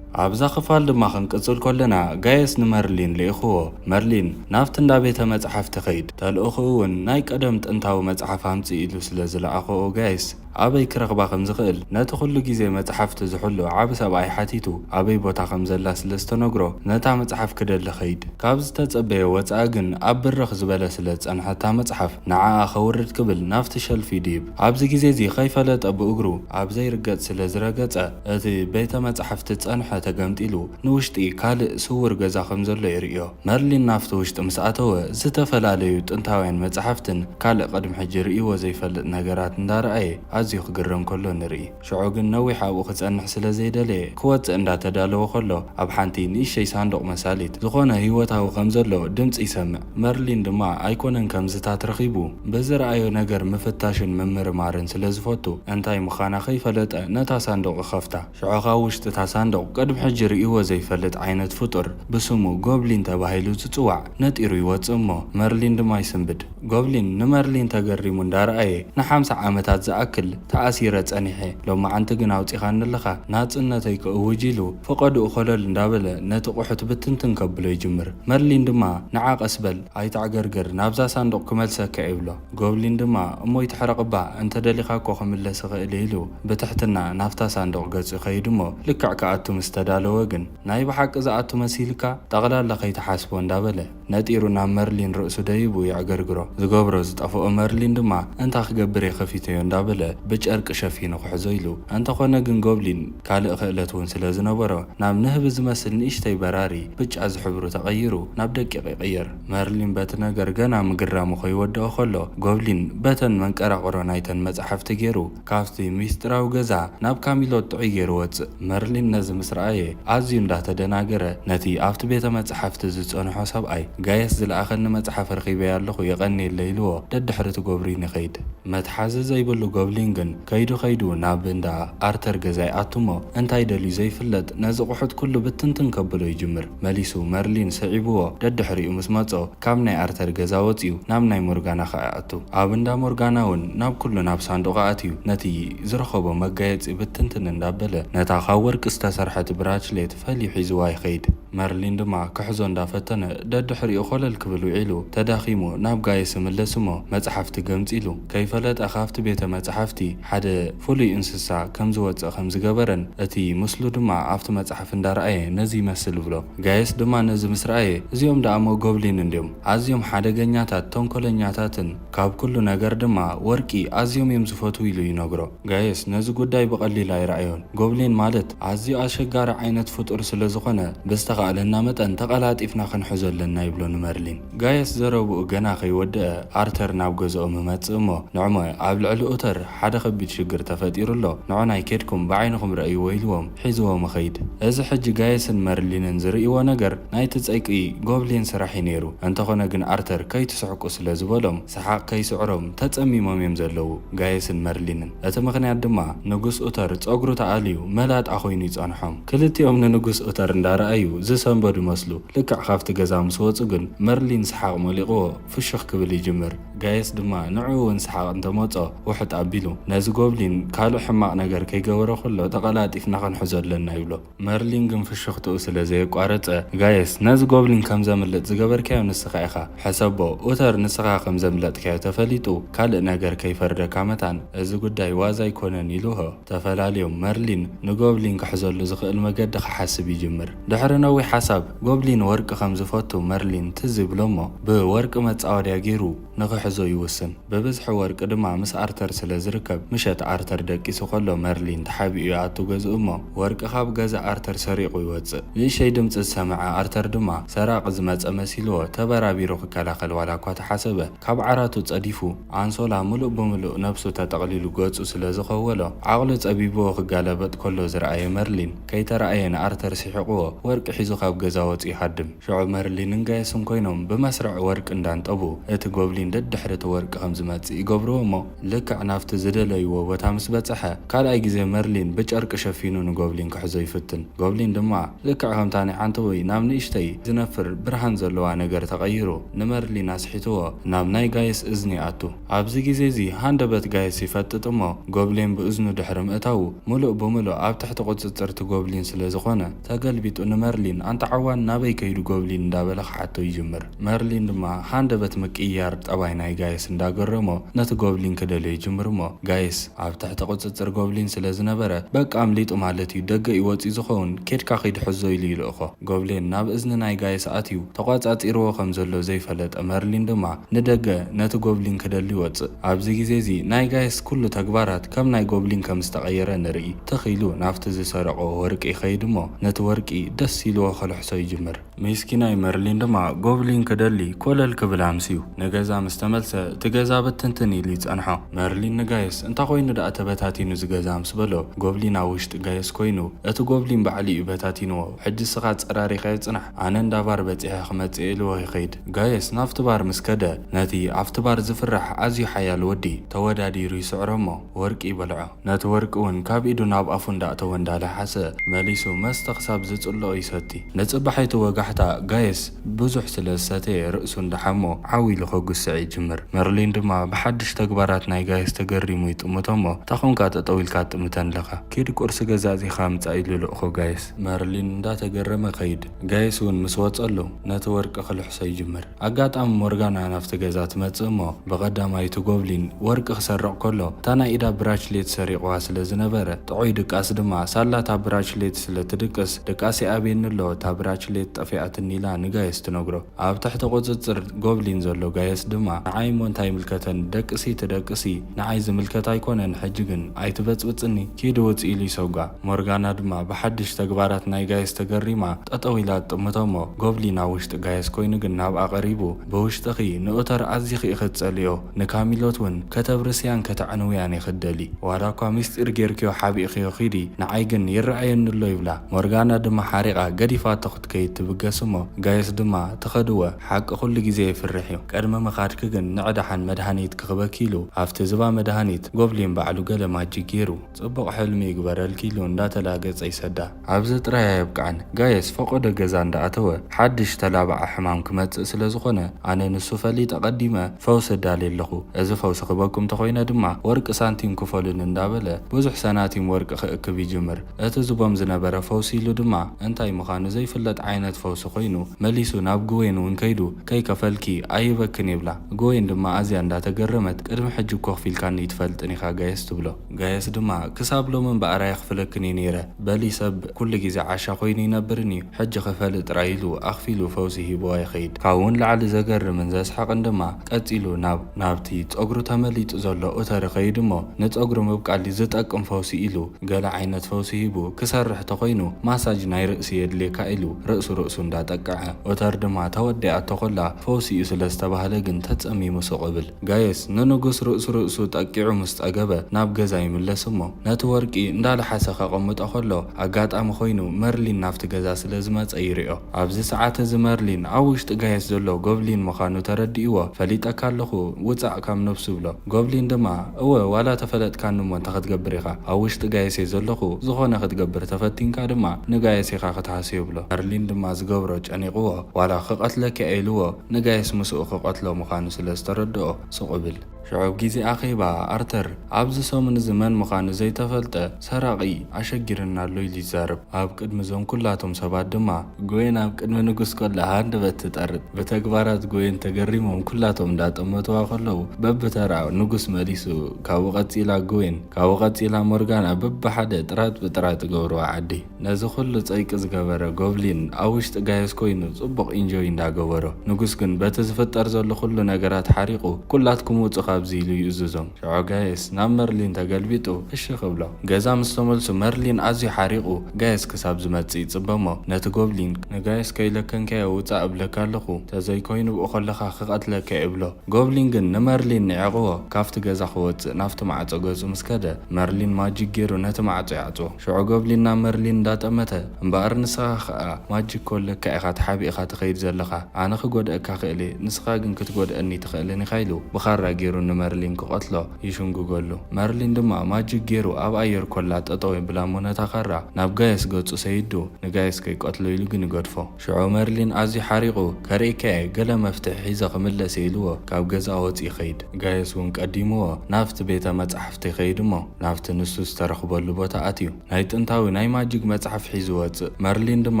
ኣብዛ ክፋል ድማ ክንቅጽል ከሎና ጋይስ ንመርሊን ልኢኽዎ። መርሊን ናብቲ እንዳ ቤተ መጽሓፍቲ ኸይድ። ተልእኹኡ'ውን ናይ ቀደም ጥንታዊ መጽሓፍ ኣምጽእ ኢሉ ስለ ዝለኣኸኦ ጋይስ። ኣበይ ክረኽባ ከም ዝኽእል ነቲ ኵሉ ግዜ መጽሓፍቲ ዝሕሉ ዓቢ ሰብኣይ ሓቲቱ ኣበይ ቦታ ከም ዘላ ስለ ዝተነግሮ ነታ መጽሓፍ ክደሊ ከይድ። ካብ ዝተጸበዮ ወጻኢ ግን ኣብ ብርኽ ዝበለ ስለ ዝጸንሐ እታ መጽሓፍ ንዓኣ ከውርድ ክብል ናብቲ ሸልፍ ይድይብ። ኣብዚ ግዜ እዚ ከይፈለጠ ብእግሩ ኣብ ዘይርገጽ ስለ ዝረገጸ እቲ ቤተ መጻሕፍቲ ዝጸንሐ ተገምጢሉ ንውሽጢ ካልእ ስዉር ገዛ ከም ዘሎ ይርእዮ። መርሊን ናብቲ ውሽጢ ምስ ኣተወ፣ ዝተፈላለዩ ጥንታውያን መጻሕፍትን ካልእ ቅድሚ ሕጂ ርእይዎ ዘይፈልጥ ነገራት እንዳ ረኣየ ኣዝዩ ክግረም ከሎ ንርኢ። ሽዑ ግን ነዊሕ ኣብኡ ክጸንሕ ስለ ዘይደለየ፣ ክወጽእ እንዳ ተዳለወ ከሎ፣ ኣብ ሓንቲ ንእሽተይ ሳንዱቕ መሳሊት፣ ዝኾነ ህይወታዊ ከም ዘሎ ድምጺ ይሰምዕ። መርሊን ድማ ኣይኮነን ከምዝታት ረኺቡ፣ ብዝረኣዮ ነገር ምፍታሽን ምምርማርን ስለ ዝፈቱ፣ እንታይ ምኻና ከይፈለጠ ነታ ሳንዱቕ ይኸፍታ። ሽዑ ከኣ ውሽጢ እታ ሳንዱቕ ቅድሚ ሕጂ ርእይዎ ዘይፈልጥ ዓይነት ፍጡር ብስሙ ጎብሊን ተባሂሉ ዝጽዋዕ ነጢሩ ይወጽእ እሞ መርሊን ድማ ይስንብድ። ጎብሊን ንመርሊን ተገሪሙ እንዳረኣየ ንሓምሳ ዓመታት ዝኣክል ተኣሲረ ጸኒሐ ሎማዓንቲ ግን ኣውጺኻኒ ኣለኻ ናጽነተይ ክእውጅ ኢሉ ፈቐድኡ ኮለል እንዳበለ ነቲ ቁሑት ብትንትን ከብሎ ይጅምር። መርሊን ድማ ንዓ ቀስ በል ኣይተዕገርግር ናብዛ ሳንዱቕ ክመልሰካ'የ ይብሎ። ጎብሊን ድማ እሞ ይትሕረቕ'ባ፣ እንተ ደሊኻ እኮ ክምለስ እኽእል'የ ኢሉ ብትሕትና ናብታ ሳንዱቕ ገጹ ይኸይድ'ሞ ልክዕ ክኣቱ ምስ ተዳለወ ግን ናይ ብሓቂ ዝኣቱ መሲልካ? ጠቕላላ ከይትሓስቦ እንዳበለ ነጢሩ ናብ መርሊን ርእሱ ደይቡ የዕገርግሮ። ዝገብሮ ዝጠፍኦ መርሊን ድማ እንታ ክገብር'የ ከፊተዮ እንዳበለ ብጨርቂ ሸፊኑ ክሕዞ ኢሉ። እንተ ኾነ ግን ጎብሊን ካልእ ክእለት'ውን ስለ ዝነበሮ ናብ ንህቢ ዝመስል ንእሽተይ በራሪ ብጫ ዝሕብሩ ተቐይሩ ናብ ደቂቕ ይቕየር። መርሊን በቲ ነገር ገና ምግራሙ ከይወደኦ ከሎ፣ ጎብሊን በተን መንቀራቕሮ ናይተን መጻሕፍቲ ጌሩ ካብቲ ምስጢራዊ ገዛ ናብ ካሚሎት ጥዑይ ጌሩ ወጽእ። መርሊን ነዚ ምስ ረኣየ ኣዝዩ እንዳ ተደናገረ ነቲ ኣብቲ ቤተ መጻሕፍቲ ዝጸንሖ ሰብኣይ፣ ጋየስ ዝለኣኸኒ መጽሓፍ ረኺበያ ኣለኹ የቐንየለይ ኢልዎ ደድሕሪ'ቲ ጎብሪን ይኸይድ። መትሓዚ ዘይብሉ ጎብሊን ግን ከይዱ ከይዱ ናብ እንዳ ኣርተር ገዛ ይኣቱ'ሞ እንታይ ደልዩ ዘይፍለጥ ነዚ ቁሑት ኩሉ ብትንትን ከብሎ ይጅምር። መሊሱ መርሊን ስዒቡዎ ደድሕሪኡ ምስ መጾ ካብ ናይ ኣርተር ገዛ ወጺኡ ናብ ናይ ሞርጋና ከኣ ይኣቱ። ኣብ እንዳ ሞርጋና ውን ናብ ኩሉ ናብ ሳንዱቕ ኣእትዩ ነቲ ዝረኸቦ መጋየጺ ብትንትን እንዳበለ ነታ ካብ ወርቂ ዝተሰርሐት ብራችሌት ፈልዩ ሒዙዋ ይኸይድ። መርሊን ድማ ክሕዞ እንዳፈተነ ደድሕሪኡ ኮለል ክብል ውዒሉ ተዳኺሙ ናብ ጋይስ ይምለስ እሞ መጽሓፍቲ ገምጺሉ ከይፈለጠ ካብቲ ቤተ መጽሓፍቲ ሓደ ፍሉይ እንስሳ ከም ዝወጽእ ከም ዝገበረን እቲ ምስሉ ድማ ኣብቲ መጽሓፍቲ ኣፍ እንዳረኣየ ነዚ ይመስል እብሎ። ጋይስ ድማ ነዚ ምስ ረኣየ እዚኦም ደኣሞ ጎብሊን እንድዮም ኣዝዮም ሓደገኛታት ተንኮለኛታትን ካብ ኩሉ ነገር ድማ ወርቂ ኣዝዮም እዮም ዝፈትዉ ኢሉ ይነግሮ። ጋይስ ነዚ ጉዳይ ብቀሊል ኣይረኣዮን ጎብሊን ማለት ኣዝዩ ኣሸጋሪ ዓይነት ፍጡር ስለ ዝኾነ ብዝተኻእለና መጠን ተቀላጢፍና ክንሕዞ ኣለና ይብሎ ንመርሊን። ጋይስ ዘረብኡ ገና ከይወደኣ ኣርተር ናብ ገዝኦም ይመጽእ እሞ ንዕሞ ኣብ ልዕሊ ኡተር ሓደ ከቢድ ሽግር ተፈጢሩ ኣሎ ንዖናይ ኬድኩም ብዓይንኹም ረኣይዎ ኢልዎም። ሒዝዎ ምኽይድ። እዚ ሕጂ ጋይስን መርሊንን ዝርእይዎ ነገር ናይቲ ጸይቂ ጎብሊን ስራሕ እዩ ነይሩ። እንተኾነ ግን ኣርተር ከይትስሕቁ ስለ ዝበሎም ሰሓቕ ከይስዕሮም ተጸሚሞም እዮም ዘለዉ ጋይስን መርሊንን። እቲ ምኽንያት ድማ ንጉስ ኡተር ጸጉሩ ተኣልዩ መላጣ ኮይኑ ይጸንሖም። ክልቲኦም ንንጉስ ኡተር እንዳረኣዩ ዝሰንበዱ መስሉ። ልክዕ ካብቲ ገዛ ምስ ወጹ ግን መርሊን ሰሓቕ ሞሊቕዎ ፍሹኽ ክብል ይጅምር። ጋይስ ድማ ንዑ እውን ሰሓቕ እንተ መጾ ውሕጥ ኣቢሉ ነዚ ጎብሊን ካልእ ሕማቕ ነገር ከይገበሮ ከሎ ተቐላጢፍና ክንሕዞ ኣለና ይብሎ። መርሊን ግን ፍሽኽትኡ ስለ ዘየቋረጸ ጋይስ ነዚ ጎብሊን ከም ዘምልጥ ዝገበርካዮ ንስኻ ኢኻ ሕሰቦ ኡተር ንስኻ ከም ዘምለጥካዮ ተፈሊጡ ካልእ ነገር ከይፈርደካ መታን እዚ ጉዳይ ዋዛ ኣይኮነን ኢልዎ። ተፈላልዮም፣ መርሊን ንጎብሊን ክሕዘሉ ዝኽእል መገዲ ክሓስብ ይጅምር። ድሕሪ ነዊሕ ሓሳብ፣ ጎብሊን ወርቂ ከም ዝፈቱ መርሊን ትዝ ይብሎ'ሞ፣ ብወርቂ መጻወድያ ገይሩ ንኽሕዞ ይውስን። ብብዝሒ ወርቂ ድማ ምስ ኣርተር ስለ ዝርከብ፣ ምሸት ኣርተር ደቂሱ ከሎ መርሊን ተሓቢኡ ይኣቱ ገዝኡ'ሞ፣ ወርቂ ካብ ገዛ ኣርተር ሰሪቑ ይወጽእ። ንእሽተይ ድምጺ ዝሰምዐ ኣርተር ድማ፣ ሰራቒ ዝመጸ መሲልዎ ተበራቢሩ ክከላኸል ዋላ'ኳ ተሓሰበ፣ ካብ ዓራቱ ጸዲፉ፣ ኣንሶላ ምሉእ ብምሉእ ነብሱ ተጠቕሊሉ ገጹ ስለ ዝኸወሎ፣ ዓቕሉ ጸቢቡዎ ክጋላበጥ ከሎ ዝረኣየ መርሊን፣ ከይተራእየ ንኣርተር ሲሒቑዎ ወርቂ ሒዙ ካብ ገዛ ወጹ ይሃድም። ሽዑ መርሊንን ጋየስን ኮይኖም ብመስርዕ ወርቂ እንዳንጠቡ፣ እቲ ጎብሊን ደድሕሪ እቲ ወርቂ ከም ዝመጽእ ይገብሩዎ'ሞ፣ ልክዕ ናብቲ ዝደለይዎ ቦታ ምስ በጽሐ፣ ካልኣይ ግዜ መርሊን ብጨርቂ ሸፊኑ ንጎብሊን ክሕዞ ይፍትን። ጎብሊን ድማ ልክዕ ከምታ ናይ ዓንተቦይ ናብ ንእሽተይ ዝነፍር ብርሃን ዘለዋ ነገር ተቐይሩ ንመርሊን ኣስሒትዎ ናብ ናይ ጋይስ እዝኒ ይኣቱ። ኣብዚ ግዜ'ዚ ሃንደበት ጋይስ ይፈጥጥ እሞ ጎብሊን ብእዝኑ ድሕሪ ምእታዉ ምሉእ ብምሉእ ኣብ ትሕቲ ቁጽጽርቲ ጎብሊን ስለ ዝኾነ ተገልቢጡ ንመርሊን ኣንታ ዓዋን ናበይ ከይዱ ጎብሊን እንዳበለ ክሓቶ ይጅምር። መርሊን ድማ ሃንደበት ምቅይያር ጠባይ ናይ ጋይስ እንዳገረሞ ነቲ ጎብሊን ክደልዮ ይጅምር እሞ ጋይስ ኣብ ትሕቲ ቁጽጽር ጎብሊን ስለ ዝነበረ በቃ ኣምሊጡ ማለት እዩ ደገ እዩ ወጽዩ ዝኸውን ኬድካ ኺድ ሐዞ ኢሉ ይልእኾ ጎብሌን ናብ እዝኒ ናይ ጋይስ ኣትዩ ተቋጻጺርዎ ከም ዘሎ ዘይፈለጠ መርሊን ድማ ንደገ ነቲ ጎብሊን ክደሊ ይወጽእ ኣብዚ ግዜ እዚ ናይ ጋይስ ኩሉ ተግባራት ከም ናይ ጎብሊን ከም ዝተቀየረ ንርኢ ትኽ ኢሉ ናብቲ ዝሰረቆ ወርቂ ይኸይድ እሞ ነቲ ወርቂ ደስ ኢልዎ ከልሕሶ ይጅምር ሜስኪናይ መርሊን ድማ ጎብሊን ክደሊ ኮለል ክብል ኣምስዩ ንገዛ ምስ ተመልሰ እቲ ገዛ ብትንትን ኢሉ ይጸንሖ። መርሊን ንጋይስ እንታ ኮይኑ ደኣ ተበታቲኑ እዚ ገዛ ምስ በሎ ጎብሊን ኣብ ውሽጢ ጋይስ ኮይኑ እቲ ጎብሊን ባዕሉ እዩ በታቲንዎ ሕጂ እስኻ ኣጸራሪኻዮ ጽናሕ ኣነ እንዳ ባር በጺሐ ክመጽእ ኢልዎ ይኸይድ ጋይስ ናብቲ ባር ምስ ከደ ነቲ ኣብቲ ባር ዝፍራሕ ኣዝዩ ሓያል ወዲ ተወዳዲሩ ይስዕሮ እሞ ወርቂ ይበልዖ ነቲ ወርቂ ውን ካብ ኢዱ ናብ ኣፉ እንዳእተወ እንዳለሓሰ መሊሱ መስተ ክሳብ ዝጽልኦ ይሰቲ። ንጽባሒቱ ወጋሕታ ጋይስ ብዙሕ ስለ ዝሰተየ ርእሱ እንዳሓሞ ዓው ኢሉ ከጉስዕ ይጅምር። መርሊን ድማ ብሓድሽ ተግባራት ናይ ጋይስ ተገሪሙ ይጥምቶ'ሞ ታይ ኮንካ ጠጠው ኢልካ ትጥምተን ለኻ? ኪድ ቁርሲ ገዛእዚኻ ምጻእ ኢሉ ልእኮ ጋይስ። መርሊን እንዳተገረመ ከይድ። ጋይስ ውን ምስ ወጸሉ ነቲ ወርቂ ክልሕሶ ይጅምር። ኣጋጣሚ ሞርጋና ናብቲ ገዛ ትመጽእ እሞ ብቐዳማይቱ ጎብሊን ወርቂ ክሰርቕ ከሎ እታ ናይ ኢዳ ብራችሌት ሰሪቑዋ ስለ ዝነበረ ጥዑይ ድቃስ ድማ ሳላ እታ ብራችሌት ስለ ትድቅስ ድቃስ ይኣብየኒ ኣሎ እታ ብራችሌት ጠፊኣትኒ ኢላ ንጋየስ ትነግሮ ኣብ ትሕቲ ቁጽጽር ጎብሊን ዘሎ ጋየስ ድማ ንዓይ እሞ እንታይ ይምልከተኒ ደቅሲ ትደቅሲ ንዓይ ዝምልከት ኣይኮነን ሕጂ ግን ኣይትበጽብጽኒ ኪዲ ውጽ ኢሉ ይሰጓ። ሞርጋና ድማ ብሓድሽ ተግባራት ናይ ጋይስ ተገሪማ ጠጠው ኢላ ትጥምቶ'ሞ ጎብሊን ኣብ ውሽጢ ጋይስ ኮይኑ ግን ናብኣ ቀሪቡ ብውሽጥኺ ንኡተር ኣዚኺ ኢኺ ትጸልእዮ ንካሚሎት ውን ከተብርስያን ከተዕንውያን ኢኺ ትደልዪ ዋላኳ ምስጢር ጌርክዮ ሓቢእኽዮ ኺዲ ንዓይ ግን ይረኣየኒ'ሎ ይብላ ሞርጋና ድማ ሓሪቓ ገዲፋቶ ክትከይድ ትብገስ'ሞ ጋይስ ድማ ትኸድወ ሓቂ ኩሉ ግዜ የፍርሕ'ዩ ቅድሚ ምኻድኪ ግን ንዕዳሓን መድሃኒት ክክበኪ ኢሉ ኣብቲ ዝባ መድሃኒት ጎብሊን ባዕሉ ገለ ማጂክ ጌሩ ጽቡቅ ሕልሚ ይግበረልኪ ኢሉ እንዳተላገጸ ይሰዳ። ኣብዚ ጥራይ ኣየብቅዕን ጋይስ ፈቆዶ ገዛ እንዳኣተወ ሓድሽ ተላባዒ ሕማም ክመጽእ ስለ ዝኮነ ኣነ ንሱ ፈሊጠ ቀዲመ ፈውሲ እዳሊ ኣለኩ እዚ ፈውሲ ክበኩም ተኮይነ ድማ ወርቂ ሳንቲም ክፈሉኒ እንዳበለ ብዙሕ ሰናቲም ወርቂ ክእክብ ይጅምር እቲ ዝቦም ዝነበረ ፈውሲ ኢሉ ድማ እንታይ ምካኑ ዘይፍለጥ ዓይነት ፈውሲ ኮይኑ መሊሱ ናብ ግዌን ውን ከይዱ ከይከፈልኪ ኣይህበክን ይብላ። እግወይን ድማ ኣዝያ እንዳ ተገረመት ቅድሚ ሕጂ እኮ ክፊልካኒ ኣይትፈልጥን ኢኻ ጋይስ ትብሎ። ጋይስ ድማ ክሳብ ሎሚ እምበኣር ኣይኽፍለክን እየ ነይረ በሊ ሰብ ኩሉ ግዜ ዓሻ ኮይኑ ይነብርን እዩ ሕጂ ክፈሊ ጥራይ ኢሉ ኣኽፊሉ ፈውሲ ሂብዋ ይኸይድ። ካብኡ ንላዕሊ ዘገርምን ዘስሕቕን ድማ ቀጺሉ ናብ ናብቲ ጸጉሩ ተመሊጡ ዘሎ ኡተሪ ከይዱ እሞ ንጸጉሪ ምብቃል ዝጠቅም ፈውሲ ኢሉ ገለ ዓይነት ፈውሲ ሂቡ ክሰርሕ ተኾይኑ ማሳጅ ናይ ርእሲ የድልየካ ኢሉ ርእሲ ርእሱ እንዳ ጠቀዐ። ኦተር ድማ ተወዲኣቶ ኮላ ፈውሲ'ዩ ስለ ዝተባህለ ግን ተጸሚሙ ሱቕ እብል። ጋይስ ንንጉስ ርእሱ ርእሱ ጠቂዑ ምስ ጸገበ ናብ ገዛ ይምለስ እሞ ነቲ ወርቂ እንዳ ለሓሰ ከቐምጦ ከሎ ኣጋጣሚ ኮይኑ መርሊን ናብቲ ገዛ ስለ ዝመጸ ይሪኦ። ኣብዚ ሰዓት እዚ መርሊን ኣብ ውሽጢ ጋይስ ዘሎ ጎብሊን ምኻኑ ተረዲእዎ ፈሊጠካ ኣለኹ ውጻእ ካብ ነብሱ ይብሎ። ጎብሊን ድማ እወ ዋላ ተፈለጥካኒ እሞ እንታይ ክትገብር ኢኻ ኣብ ውሽጢ ጋይሴ ዘለኹ ዝኾነ ክትገብር ተፈቲንካ ድማ ንጋይስ ኢኻ ክትሃሲ ይብሎ ዳርሊን ድማ ዝገብሮ ጨኒቕዎ ዋላ ክቐትለኪ እየ ኢልዎ ንጋይስ ምስኡ ክቐትሎ ምኻኑ ስለ ዝተረድኦ ሱቕ እብል። ሽዑ ኣብ ጊዜ ኣኼባ ኣርተር ኣብዚ ሰሙን እዚ መን ምኻኑ ዘይተፈልጠ ሰራቒ ኣሸጊሩና ኣሎ ኢሉ ይዛረብ። ኣብ ቅድሚ እዞም ኩላቶም ሰባት ድማ። ጎይን ኣብ ቅድሚ ንጉስ ከሎ ሃንደበት ትጠርጥ። ብተግባራት ጎይን ተገሪሞም ኩላቶም እንዳጠመቱዋ ከለዉ በብተራ ንጉስ መሊሱ ካብኡ ቀጺላ ጎይን ካብኡ ቀጺላ ሞርጋና በብሓደ ጥራጥ ብጥራጥ ይገብሩዋ ዓዲ። ነዚ ኩሉ ጸይቂ ዝገበረ ጎብሊን ኣብ ውሽጢ ጋዮስ ኮይኑ ጽቡቅ ኢንጆይ እንዳ ገበሮ ንጉስ ግን በቲ ዝፍጠር ዘሎ ኩሉ ነገራት ሓሪቁ ኩላትኩም ውጹ ካብዚ ኢሉ ይእዝዞም ሽዑ ጋዮስ ናብ መርሊን ተገልቢጡ እሺ ክብሎ ገዛ ምስ ተመልሱ መርሊን ኣዝዩ ሓሪቁ ጋዮስ ክሳብ ዝመጽእ ይጽበሞ ነቲ ጎብሊን ንጋዮስ ከይለከንካዮ ውጻእ እብለካ ኣለኩ ተዘይ ኮይኑ ብኡ ከለካ ክቀትለካ እየ ይብሎ ጎብሊን ግን ንመርሊን ኒዒቅዎ ካብቲ ገዛ ክወጽእ ናብቲ ማዕጾ ገጹ ምስ ከደ መርሊን ማጂክ ጌሩ ነቲ ማዕጾ ይዓጽዎ። ሽዑ ጎብሊና መርሊን እንዳጠመተ፣ እምበኣር ንስኻ ኸኣ ማጂክ ኮን ለካ ኢኻ ተሓቢእኻ ትኸይድ ዘለኻ፣ ኣነ ክጎድኣካ ክእል እየ ንስኻ ግን ክትጎድኣኒ ኣይትኽእልን ኢኻ ኢሉ ብኻራ ጌሩ ንመርሊን ክቐትሎ ይሽንጉገሉ። መርሊን ድማ ማጂክ ጌሩ ኣብ ኣየር ኮላ ጠጠው የብላ እሞ ነታ ኻራ ናብ ጋየስ ገጹ ሰይዱ ንጋየስ ከይቀትሎ ኢሉ ግን ይገድፎ። ሽዑ መርሊን ኣዝዩ ሓሪቑ፣ ከርእየካ'የ፣ ገለ መፍትሒ ሒዘ ክምለስ'የ ኢልዎ ካብ ገዛ ወጺኡ ይኸይድ። ጋየስ'ውን ቀዲምዎ ናብቲ ቤተ መጻሕፍቲ ይኸይድ'ሞ ናብቲ ንሱ ዝተረኽበሉ ቦታ ኣትዩ ናይ ጥንታዊ ናይ ማጂግ መጽሓፍ ሒዙ ይወጽእ። መርሊን ድማ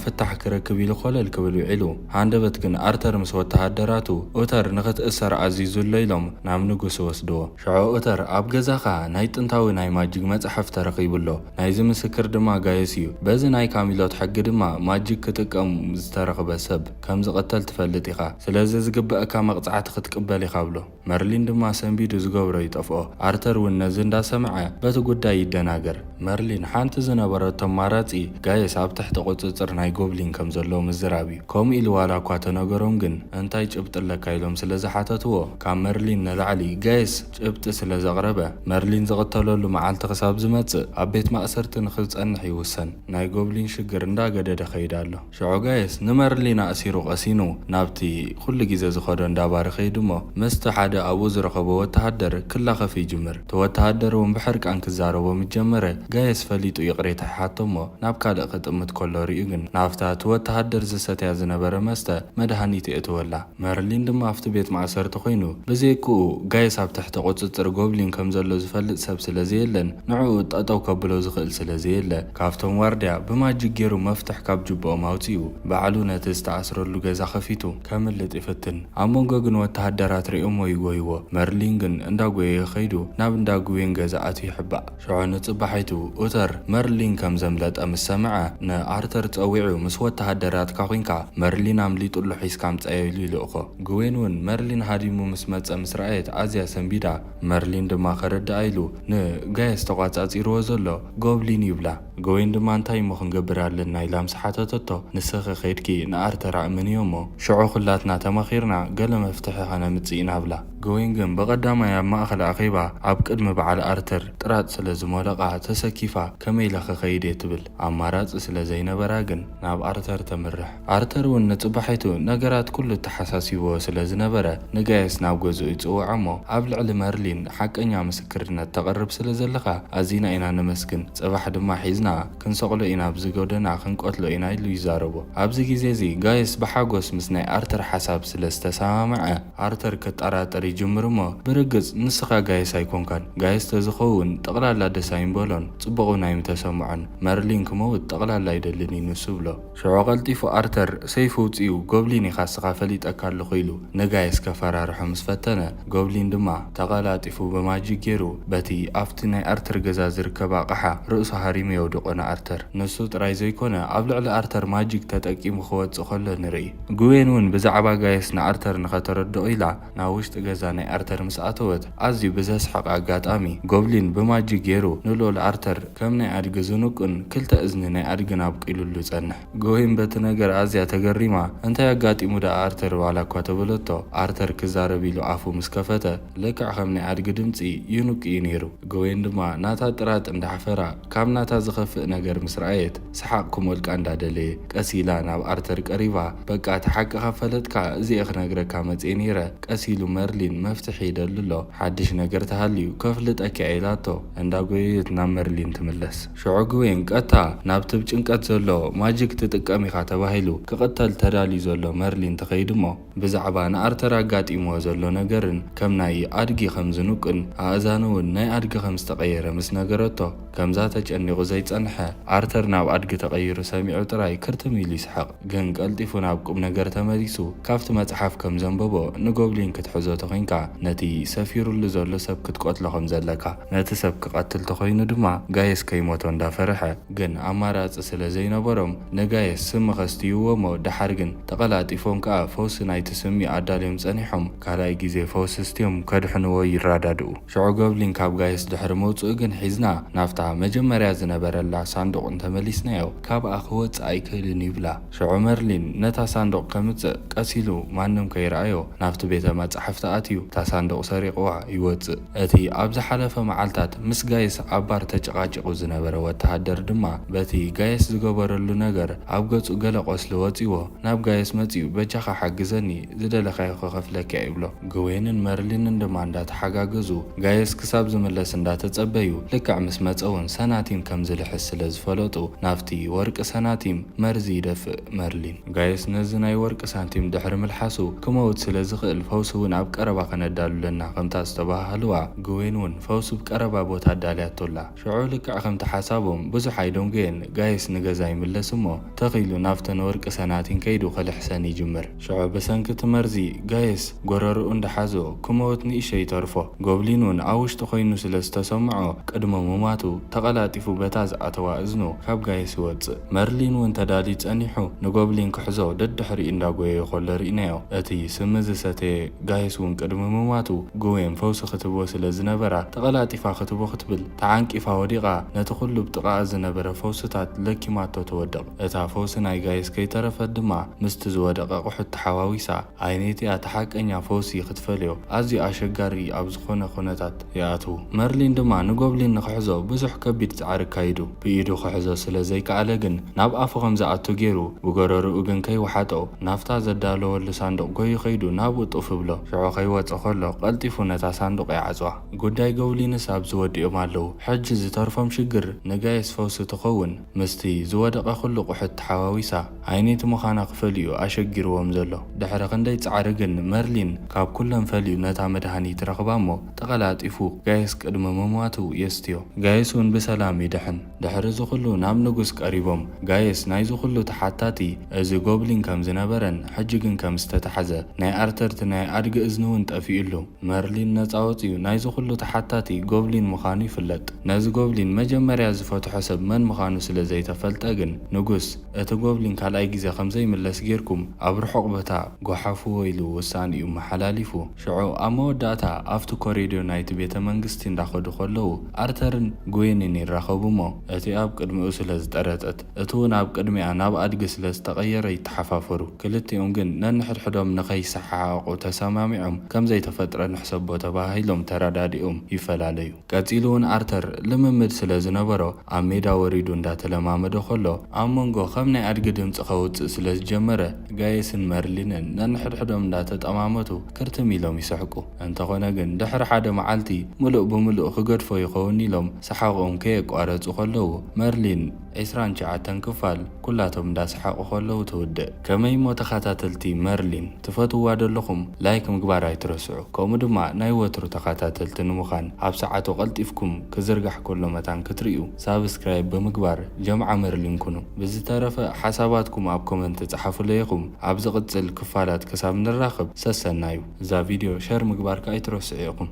ፍታሕ ክረክብ ኢሉ ኮለል ክብል ውዒሉ። ሃንደበት ግን ኣርተር ምስ ወተሃደራቱ ኡተር ንኽትእሰር ኣዚዙ'ሎ ኢሎም ናብ ንጉስ ይወስድዎ። ሽዑ ኡተር ኣብ ገዛኻ ናይ ጥንታዊ ናይ ማጂግ መጽሓፍ ተረኺቡ'ሎ፣ ናይዚ ምስክር ድማ ጋይስ እዩ በዚ ናይ ካሚሎት ሕጊ ድማ ማጂክ ክጥቀም ዝተረኽበ ሰብ ከምዝቅተል ትፈልጥ ኢኻ ስለዚ ዝግበኣካ መቅጻዕቲ ክትቅበል ኢኻ ብሎ መርሊን ድማ ሰንቢዱ ዝገብሮ ይጠፍኦ ኣርተር ውን ነዚ እንዳሰምዐ በቲ ጉዳይ ይደናገር መርሊን ሓንቲ ዝነበረቶ ኣማራጺ ጋይስ ኣብ ትሕቲ ቁጽጽር ናይ ጎብሊን ከምዘለዉ ምዝራብ እዩ ከምኡ ኢሉ ዋላ እኳ ተነገሮም ግን እንታይ ጭብጢ ኣለካ ኢሎም ስለዝሓተትዎ ካብ መርሊን ንላዕሊ ጋይስ ጭብጢ ስለ ዘቕረበ፣ መርሊን ዝቕተለሉ መዓልቲ ክሳብ ዝመጽእ ኣብ ቤት ማእሰርቲ ንኽጸንሕ ይውሰን። ናይ ጎብሊን ሽግር እንዳ ገደደ ከይድ ኣሎ። ሽዑ ጋይስ ንመርሊን ኣእሲሩ ቀሲኑ ናብቲ ኩሉ ግዜ ዝኸዶ እንዳ ባር ይኸይድ እሞ ምስቲ ሓደ ኣብኡ ዝረኸቦ ወተሃደር ክላኸፍ ይጅምር። እቲ ወተሃደር እውን ብሕርቃን ክዛረቦ ምስ ጀመረ ጋይስ ፈሊጡ ይቕሬታ ይሓቶ እሞ ናብ ካልእ ክጥምት ከሎ ሪኡ ግን ናብታ እቲ ወተሃደር ዝሰትያ ዝነበረ መስተ መድሃኒት የእትወላ። መርሊን ድማ ኣብቲ ቤት ማእሰርቲ ኰይኑ፣ ብዘይክኡ ጋይስ ኣብ ትሕቲ ቍጽጽር ጐብሊን ከም ዘሎ ዝፈልጥ ሰብ ስለ ዘየለን ንዕኡ ጠጠው ከብሎ ዝኽእል ስለ ዘየለ፣ ካብቶም ዋርድያ ብማጂክ ገይሩ መፍትሕ ካብ ጁባኦም ኣውጺኡ ባዕሉ ነቲ ዝተኣስረሉ ገዛ ከፊቱ። ከምልጥ ይፍትን። ኣብ መንጎ ግን ወተሃደራት ርእዮሞ ይጐይዎ። መርሊን ግን እንዳጐየየ ከይዱ ናብ እንዳ ግዌን ገዛ ኣትዩ ይሕባእ። ሽዑ ንጽባሒቱ ኡተር መርሊን ከም ዘምለጠ ምስ ሰምዐ፣ ንኣርተር ጸዊዑ፣ ምስ ወተሃደራትካ ኩንካ መርሊን ኣምሊጡ ኣሎ ሒዝካ ኣምጽኣዮ ኢሉ ይልእኮ። ግዌን ውን መርሊን ሃዲሙ ምስ መጸ ምስ ረኣየት ኣዝያ ሰንቢዳ። መርሊን ድማ ከረድኣ ኢሉ ን ጋየስ ተቋጻጺርዎ ዘሎ ጎብሊን ይብላ። ግዌን ድማ እንታይ እሞ ክንገብር ኣለና ኢላ ምስ ሓተተቶ፣ ንስኺ ኬድኪ ንኣርተር ኣእምንዮ እሞ ሽዑ ኩላትና ተማኺርና ገለ መፍትሒ ከነምጽእ ኢና ብላ። ገዊንግን ብቐዳማይ ኣብ ማእከል ኣኼባ ኣብ ቅድሚ በዓል ኣርተር ጥራጥ ስለ ዝሞለቓ ተሰኪፋ ከመይ ኢለ ክኸይድ'የ ትብል። ኣማራጺ ስለ ዘይነበራ ግን ናብ ኣርተር ተምርሕ። ኣርተር'ውን ንጽባሒቱ ነገራት ኩሉ ተሓሳሲቡዎ ስለ ዝነበረ ንጋየስ ናብ ገዝኡ ይጽውዖ'ሞ ኣብ ልዕሊ መርሊን ሓቀኛ ምስክርነት ተቕርብ ስለ ዘለኻ ኣዚና ኢና ነመስግን ጽባሕ ድማ ሒዝና ክንሰቕሎ ኢና ኣብዚ ጎደና ክንቀትሎ ኢና ኢሉ ይዛረቦ። ኣብዚ ግዜ እዚ ጋየስ ብሓጎስ ምስ ናይ ኣርተር ሓሳብ ስለ ዝተሰማምዐ ኣርተር ክጠራጠር ይጅምር እሞ ብርግጽ ንስኻ ጋየስ ኣይኮንካን ጋየስ ተዝኸውን ጠቕላላ ደስ ኣይምበሎን ጽቡቕ ውን ኣይምተሰምዖን መርሊን ክመውት ጠቕላላ ኣይደልን እዩ ንሱ እብሎ። ሽዑ ቀልጢፉ ኣርተር ሰይፉ ኣውጺኡ ጎብሊን ኢኻ እስኻ ፈሊጠካ ኣለኹ ኢሉ ንጋይስ ከፈራርሖ ምስ ፈተነ ጎብሊን ድማ ተቐላጢፉ ብማጂክ ጌሩ በቲ ኣብቲ ናይ ኣርተር ገዛ ዝርከብ ኣቕሓ ርእሱ ሃሪሙ የውድቖ ንኣርተር። ንሱ ጥራይ ዘይኮነ ኣብ ልዕሊ ኣርተር ማጂክ ተጠቂሙ ክወጽእ ከሎ ንርኢ። ግዌን ውን ብዛዕባ ጋይስ ንኣርተር ንኸተረድኦ ኢላ ናብ ውሽጢ ገዛ ናይ ኣርተር ምስ ኣተወት፣ ኣዝዩ ብዘስሕቕ ኣጋጣሚ፣ ጎብሊን ብማጂክ ጌሩ ንልኡል ኣርተር ከም ናይ ኣድጊ ዝንቁን ክልተ እዝኒ ናይ ኣድግን ኣብቂሉሉ ጸንሕ። ግወይን በቲ ነገር ኣዝያ ተገሪማ፣ እንታይ ኣጋጢሙ ደኣ ኣርተር ዋላ እኳ ተበለቶ፣ ኣርተር ክዛረብ ኢሉ ኣፉ ምስ ከፈተ፣ ልክዕ ከም ናይ ኣድጊ ድምጺ ይንቁ እዩ ኔሩ። ግወይን ድማ ናታ ጥራጥ እንዳሕፈራ፣ ካብ ናታ ዝኸፍእ ነገር ምስ ረኣየት፣ ሰሓቕ ክሞልቃ እንዳደለየ ቀስ ኢላ ናብ ኣርተር ቀሪባ፣ በቃ እቲ ሓቂ ካብ ፈለጥካ እዚ'የ ክነግረካ መጽየ ነይረ፣ ቀስ ኢሉ መርሊን መፍትሕ ይደሊ ኣሎ፣ ሓድሽ ነገር ተሃልዩ ከፍልጠኪ'የ ኢላቶ። እንዳጎየየት ናብ መርሊን ትምለስ። ሽዑ ግዌን ቀጥታ ናብቲ ብ ጭንቀት ዘሎ ማጂክ ትጥቀም ኢኻ ተባሂሉ ክቕተል ተዳልዩ ዘሎ መርሊን ትኸይድ'ሞ፣ ብዛዕባ ንኣርተር ኣጋጢምዎ ዘሎ ነገርን ከም ናይ ኣድጊ ከም ዝንቁን ኣእዛኑ'ውን ናይ ኣድጊ ከም ዝተቐየረ ምስ ነገረቶ፣ ከምዛ ተጨኒቑ ዘይጸንሐ ኣርተር ናብ ኣድጊ ተቐይሩ ሰሚዑ ጥራይ ክርትም ኢሉ ይስሕቕ። ግን ቀልጢፉ ናብ ቁምነገር ተመሊሱ ካብቲ መጽሓፍ ከም ዘንበቦ ንጎብሊን ክትሕዞ ተኾይንካ ነቲ ሰፊሩሉ ዘሎ ሰብ ክትቀትሎ ከም ዘለካ፣ ነቲ ሰብ ክቐትል ተኾይኑ ድማ ጋየስ ከይሞቶ እንዳፈርሐ፣ ግን ኣማራጺ ስለ ዘይነበሮም ንጋየስ ስም'ኸ ኣስትይዎ'ሞ ደሓር ግን ተቐላጢፎም ከኣ ፈውሲ ናይቲ ስሚ ኣዳልዮም ጸኒሖም። ካልኣይ ግዜ ፈውሲ ስትዮም ከድሕንዎ ይራዳድኡ። ሽዑ ጎብሊን ካብ ጋይስ ድሕሪ ምውጽኡ ግን ሒዝና ናብታ መጀመርያ ዝነበረላ ሳንዱቕ እንተመሊስናዮ ካብኣ ክወጽእ ኣይክእልን ይብላ። ሽዑ መርሊን ነታ ሳንዱቕ ከምጽእ ቀስ ኢሉ ማንም ከይርኣዮ ናብቲ ቤተ መጻሕፍቲ ኣትዩ እታ ሳንዱቕ ሰሪቕዋ ይወጽእ። እቲ ኣብ ዝሓለፈ መዓልታት ምስ ጋይስ ኣብ ባር ተጨቓጪቑ ዝነበረ ወተሃደር ድማ በቲ ጋይስ ዝገበረሉ ነገር ኣብ ገጹ ገለ ቆስሊ ወጺዎ ናብ ጋይስ መጺኡ በጃኻ ሓግዘኒ ዝደለኻዮ ክኸፍለኪ ኣይብሎ። ግዌንን መርሊንን ድማ እንዳተሓጋገዙ ጋይስ ክሳብ ዝምለስ እንዳተጸበዩ ልክዕ ምስ መጸ ውን ሰናቲም ከም ዝልሕስ ስለ ዝፈለጡ ናብቲ ወርቂ ሰናቲም መርዚ ይደፍእ መርሊን። ጋይስ ነዚ ናይ ወርቂ ሳንቲም ድሕሪ ምልሓሱ ክመውት ስለ ዝኽእል ፈውሲ ውን ኣብ ቀረባ ከነዳሉ ኣለና ከምታ ዝተባሃሃልዋ ግዌን ውን ፈውሲ ብ ቀረባ ቦታ ኣዳልያቶ ኣላ ሽዑ ልክዕ ከምቲ ሓሳቦም ብዙሕ ኣይደንጎየን ጋይስ ንገዛ ይምለስ እሞ ተኽ ኢሉ ናብተን ወርቂ ሰናቲን ከይዱ ክልሕሰን ይጅምር ሽዑ ብሰንኪ እቲ መርዚ ጋይስ ጎረርኡ እንዳሓዞ ክመውት ንእሽተይ ይተርፎ ጎብሊን ውን ኣብ ውሽጢ ኮይኑ ስለ ዝተሰምዖ ቅድሚ ምማቱ ተቐላጢፉ በታ ዝኣተዋ እዝኑ ካብ ጋይስ ይወጽእ መርሊን ውን ተዳልዩ ጸኒሑ ንጎብሊን ክሕዞ ደድሕሪኡ እንዳጎየየ ኮሎ ሪእናዮ። እቲ ስሚ ዝሰተየ ጋይስ ውን ቅድሚ ምማቱ ግዌን ፈውሲ ክትህቦ ስለ ዝነበራ ተቀላጢፋ ክትቦ ክትብል ተዓንቂፋ ወዲቃ ነቲ ኩሉ ብ ጥቃኣ ዝነበረ ፈውስታት ለኪማቶ ትወድቅ እታ ፈውሲ ናይ ጋይስ ከይተረፈት ድማ ምስቲ ዝወደቀ ኣቁሑት ተሓዋዊሳ ኣይኔት እያ እቲ ሓቀኛ ፈውሲ ክትፈልዮ ኣዝዩ ኣሸጋሪ ኣብ ዝኾነ ኩነታት ይኣትዉ። መርሊን ድማ ንጎብሊን ንኽሕዞ ብዙሕ ከቢድ ጻዕሪ ኣካይዱ። ብኢዱ ክሕዞ ስለ ዘይከኣለ ግን ናብ ኣፉ ከም ዝኣቱ ጌሩ ብጎረርኡ ግን ከይወሓጦ ናብታ ዘዳለወሉ ሳንዱቕ ጎዩ ከይዱ ናብኡ ጡፍ እብሎ። ሽዑ ከይወጸ ከሎ ቀልጢፉ ነታ ሳንዱቕ ይዓጽዋ። ጉዳይ ጎብሊንስ ኣብዚ ወዲኦም ኣለዉ። ሕጂ ዝተርፎም ሽግር ንጋይስ ፈውሲ ትኸውን። ምስቲ ዝወደቐ ኩሉ ቁሕት ተሓዋዊሳ ኣይነይቲ ምዃና ክፈልዩ'ዩ ኣሸጊርዎም ዘሎ። ድሕሪ ክንደይ ጻዕሪ ግን መርሊን ካብ ኩሎም ፈልዩ ነታ መድሃኒት ረኽባ'ሞ ተቐላጢፉ ጋይስ ቅድሚ ምሟቱ የስትዮ። ጋይስ'ውን ብሰላም ይድሕን። ድሕሪ'ዚ ኩሉ ናብ ንጉስ ቀሪቦም ጋይስ ናይዚ ኩሉ ተሓታቲ እዚ ጎብሊን ከም ዝነበረን ሕጂ ግን ከም ዝተታሕዘ ናይ ኣርተርቲ ናይ ኣድጊ እዝኒ'ውን ጠፊኡሉ። መርሊን ነጻ ወጺኡ ናይዚ ኩሉ ተሓታቲ ጎብሊን ምኻኑ ይፍለጥ። ነዚ ጎብሊን መጀመርያ ዝፈትሖ ሰብ መን ምኻኑ ስለ ዘይተፈልጠ ግን ንጉስ እቲ ጎብሊን ካልኣይ ግዜ ከም ዘይምለስ ጌርኩም ኣብ ርሑቕ ቦታ ጎሓፍዎ ኢሉ ውሳኔኡ ኣመሓላሊፉ። ሽዑ ኣብ መወዳእታ ኣብቲ ኮሪድዮ ናይቲ ቤተ መንግስቲ እንዳኸዱ ከለዉ ኣርተርን ግዌንን ይራኸቡ'ሞ እቲ ኣብ ቅድሚኡ ስለ ዝጠረጠት፣ እቲ ውን ኣብ ቅድሚኣ ናብ ኣድጊ ስለ ዝተቐየረ ይተሓፋፈሩ። ክልቲኦም ግን ነንሕድሕዶም ንከይሰሓሓቑ ተሰማሚዖም ከም ዘይተፈጥረ ንሕሰቦ ተበሃሂሎም ተረዳዲኦም ይፈላለዩ። ቀጺሉ ውን ኣርተር ልምምድ ስለ ዝነበሮ ኣብ ሜዳ ወሪዱ እንዳተለማመደ ከሎ፣ ኣብ መንጎ ከም ናይ ኣድጊ ድምጺ ከውጽእ ስለ ዝጀመረ ጋየስን መርሊንን ነንሕድሕዶም እንዳተጠማመቱ ክርትም ኢሎም ይስሕቁ። እንተኾነ ግን ድሕሪ ሓደ መዓልቲ ምሉእ ብምሉእ ክገድፎ ይኸውን ኢሎም ሰሓቕኦም ከየቋረጹ ከለዉ መርሊን ዕስራን ትሽዓተን ክፋል ኩላቶም እንዳ ሰሓቑ ከለዉ ትውድእ። ከመይ እሞ ተኻታተልቲ መርሊን ትፈትውዋ ደለኹም ላይክ ምግባር ኣይትረስዑ ከምኡ ድማ ናይ ወትሩ ተኻታተልቲ ንምኻን ኣብ ሰዓቱ ቀልጢፍኩም ክዝርጋሕ ከሎ መታን ክትርእዩ ሳብስክራይብ ብምግባር ጀምዓ መርሊን ኩኑ ብዝተረፈ ሓሳባትኩም ኣብ ኮመንት ጸሓፉለይ ኢኹም ኣብ ዝቕጽል ክፋላት ክሳብ ንራኸብ ሰሰናዩ እዛ ቪድዮ ሸር ምግባርካ ኣይትረስዑ ኢኹም።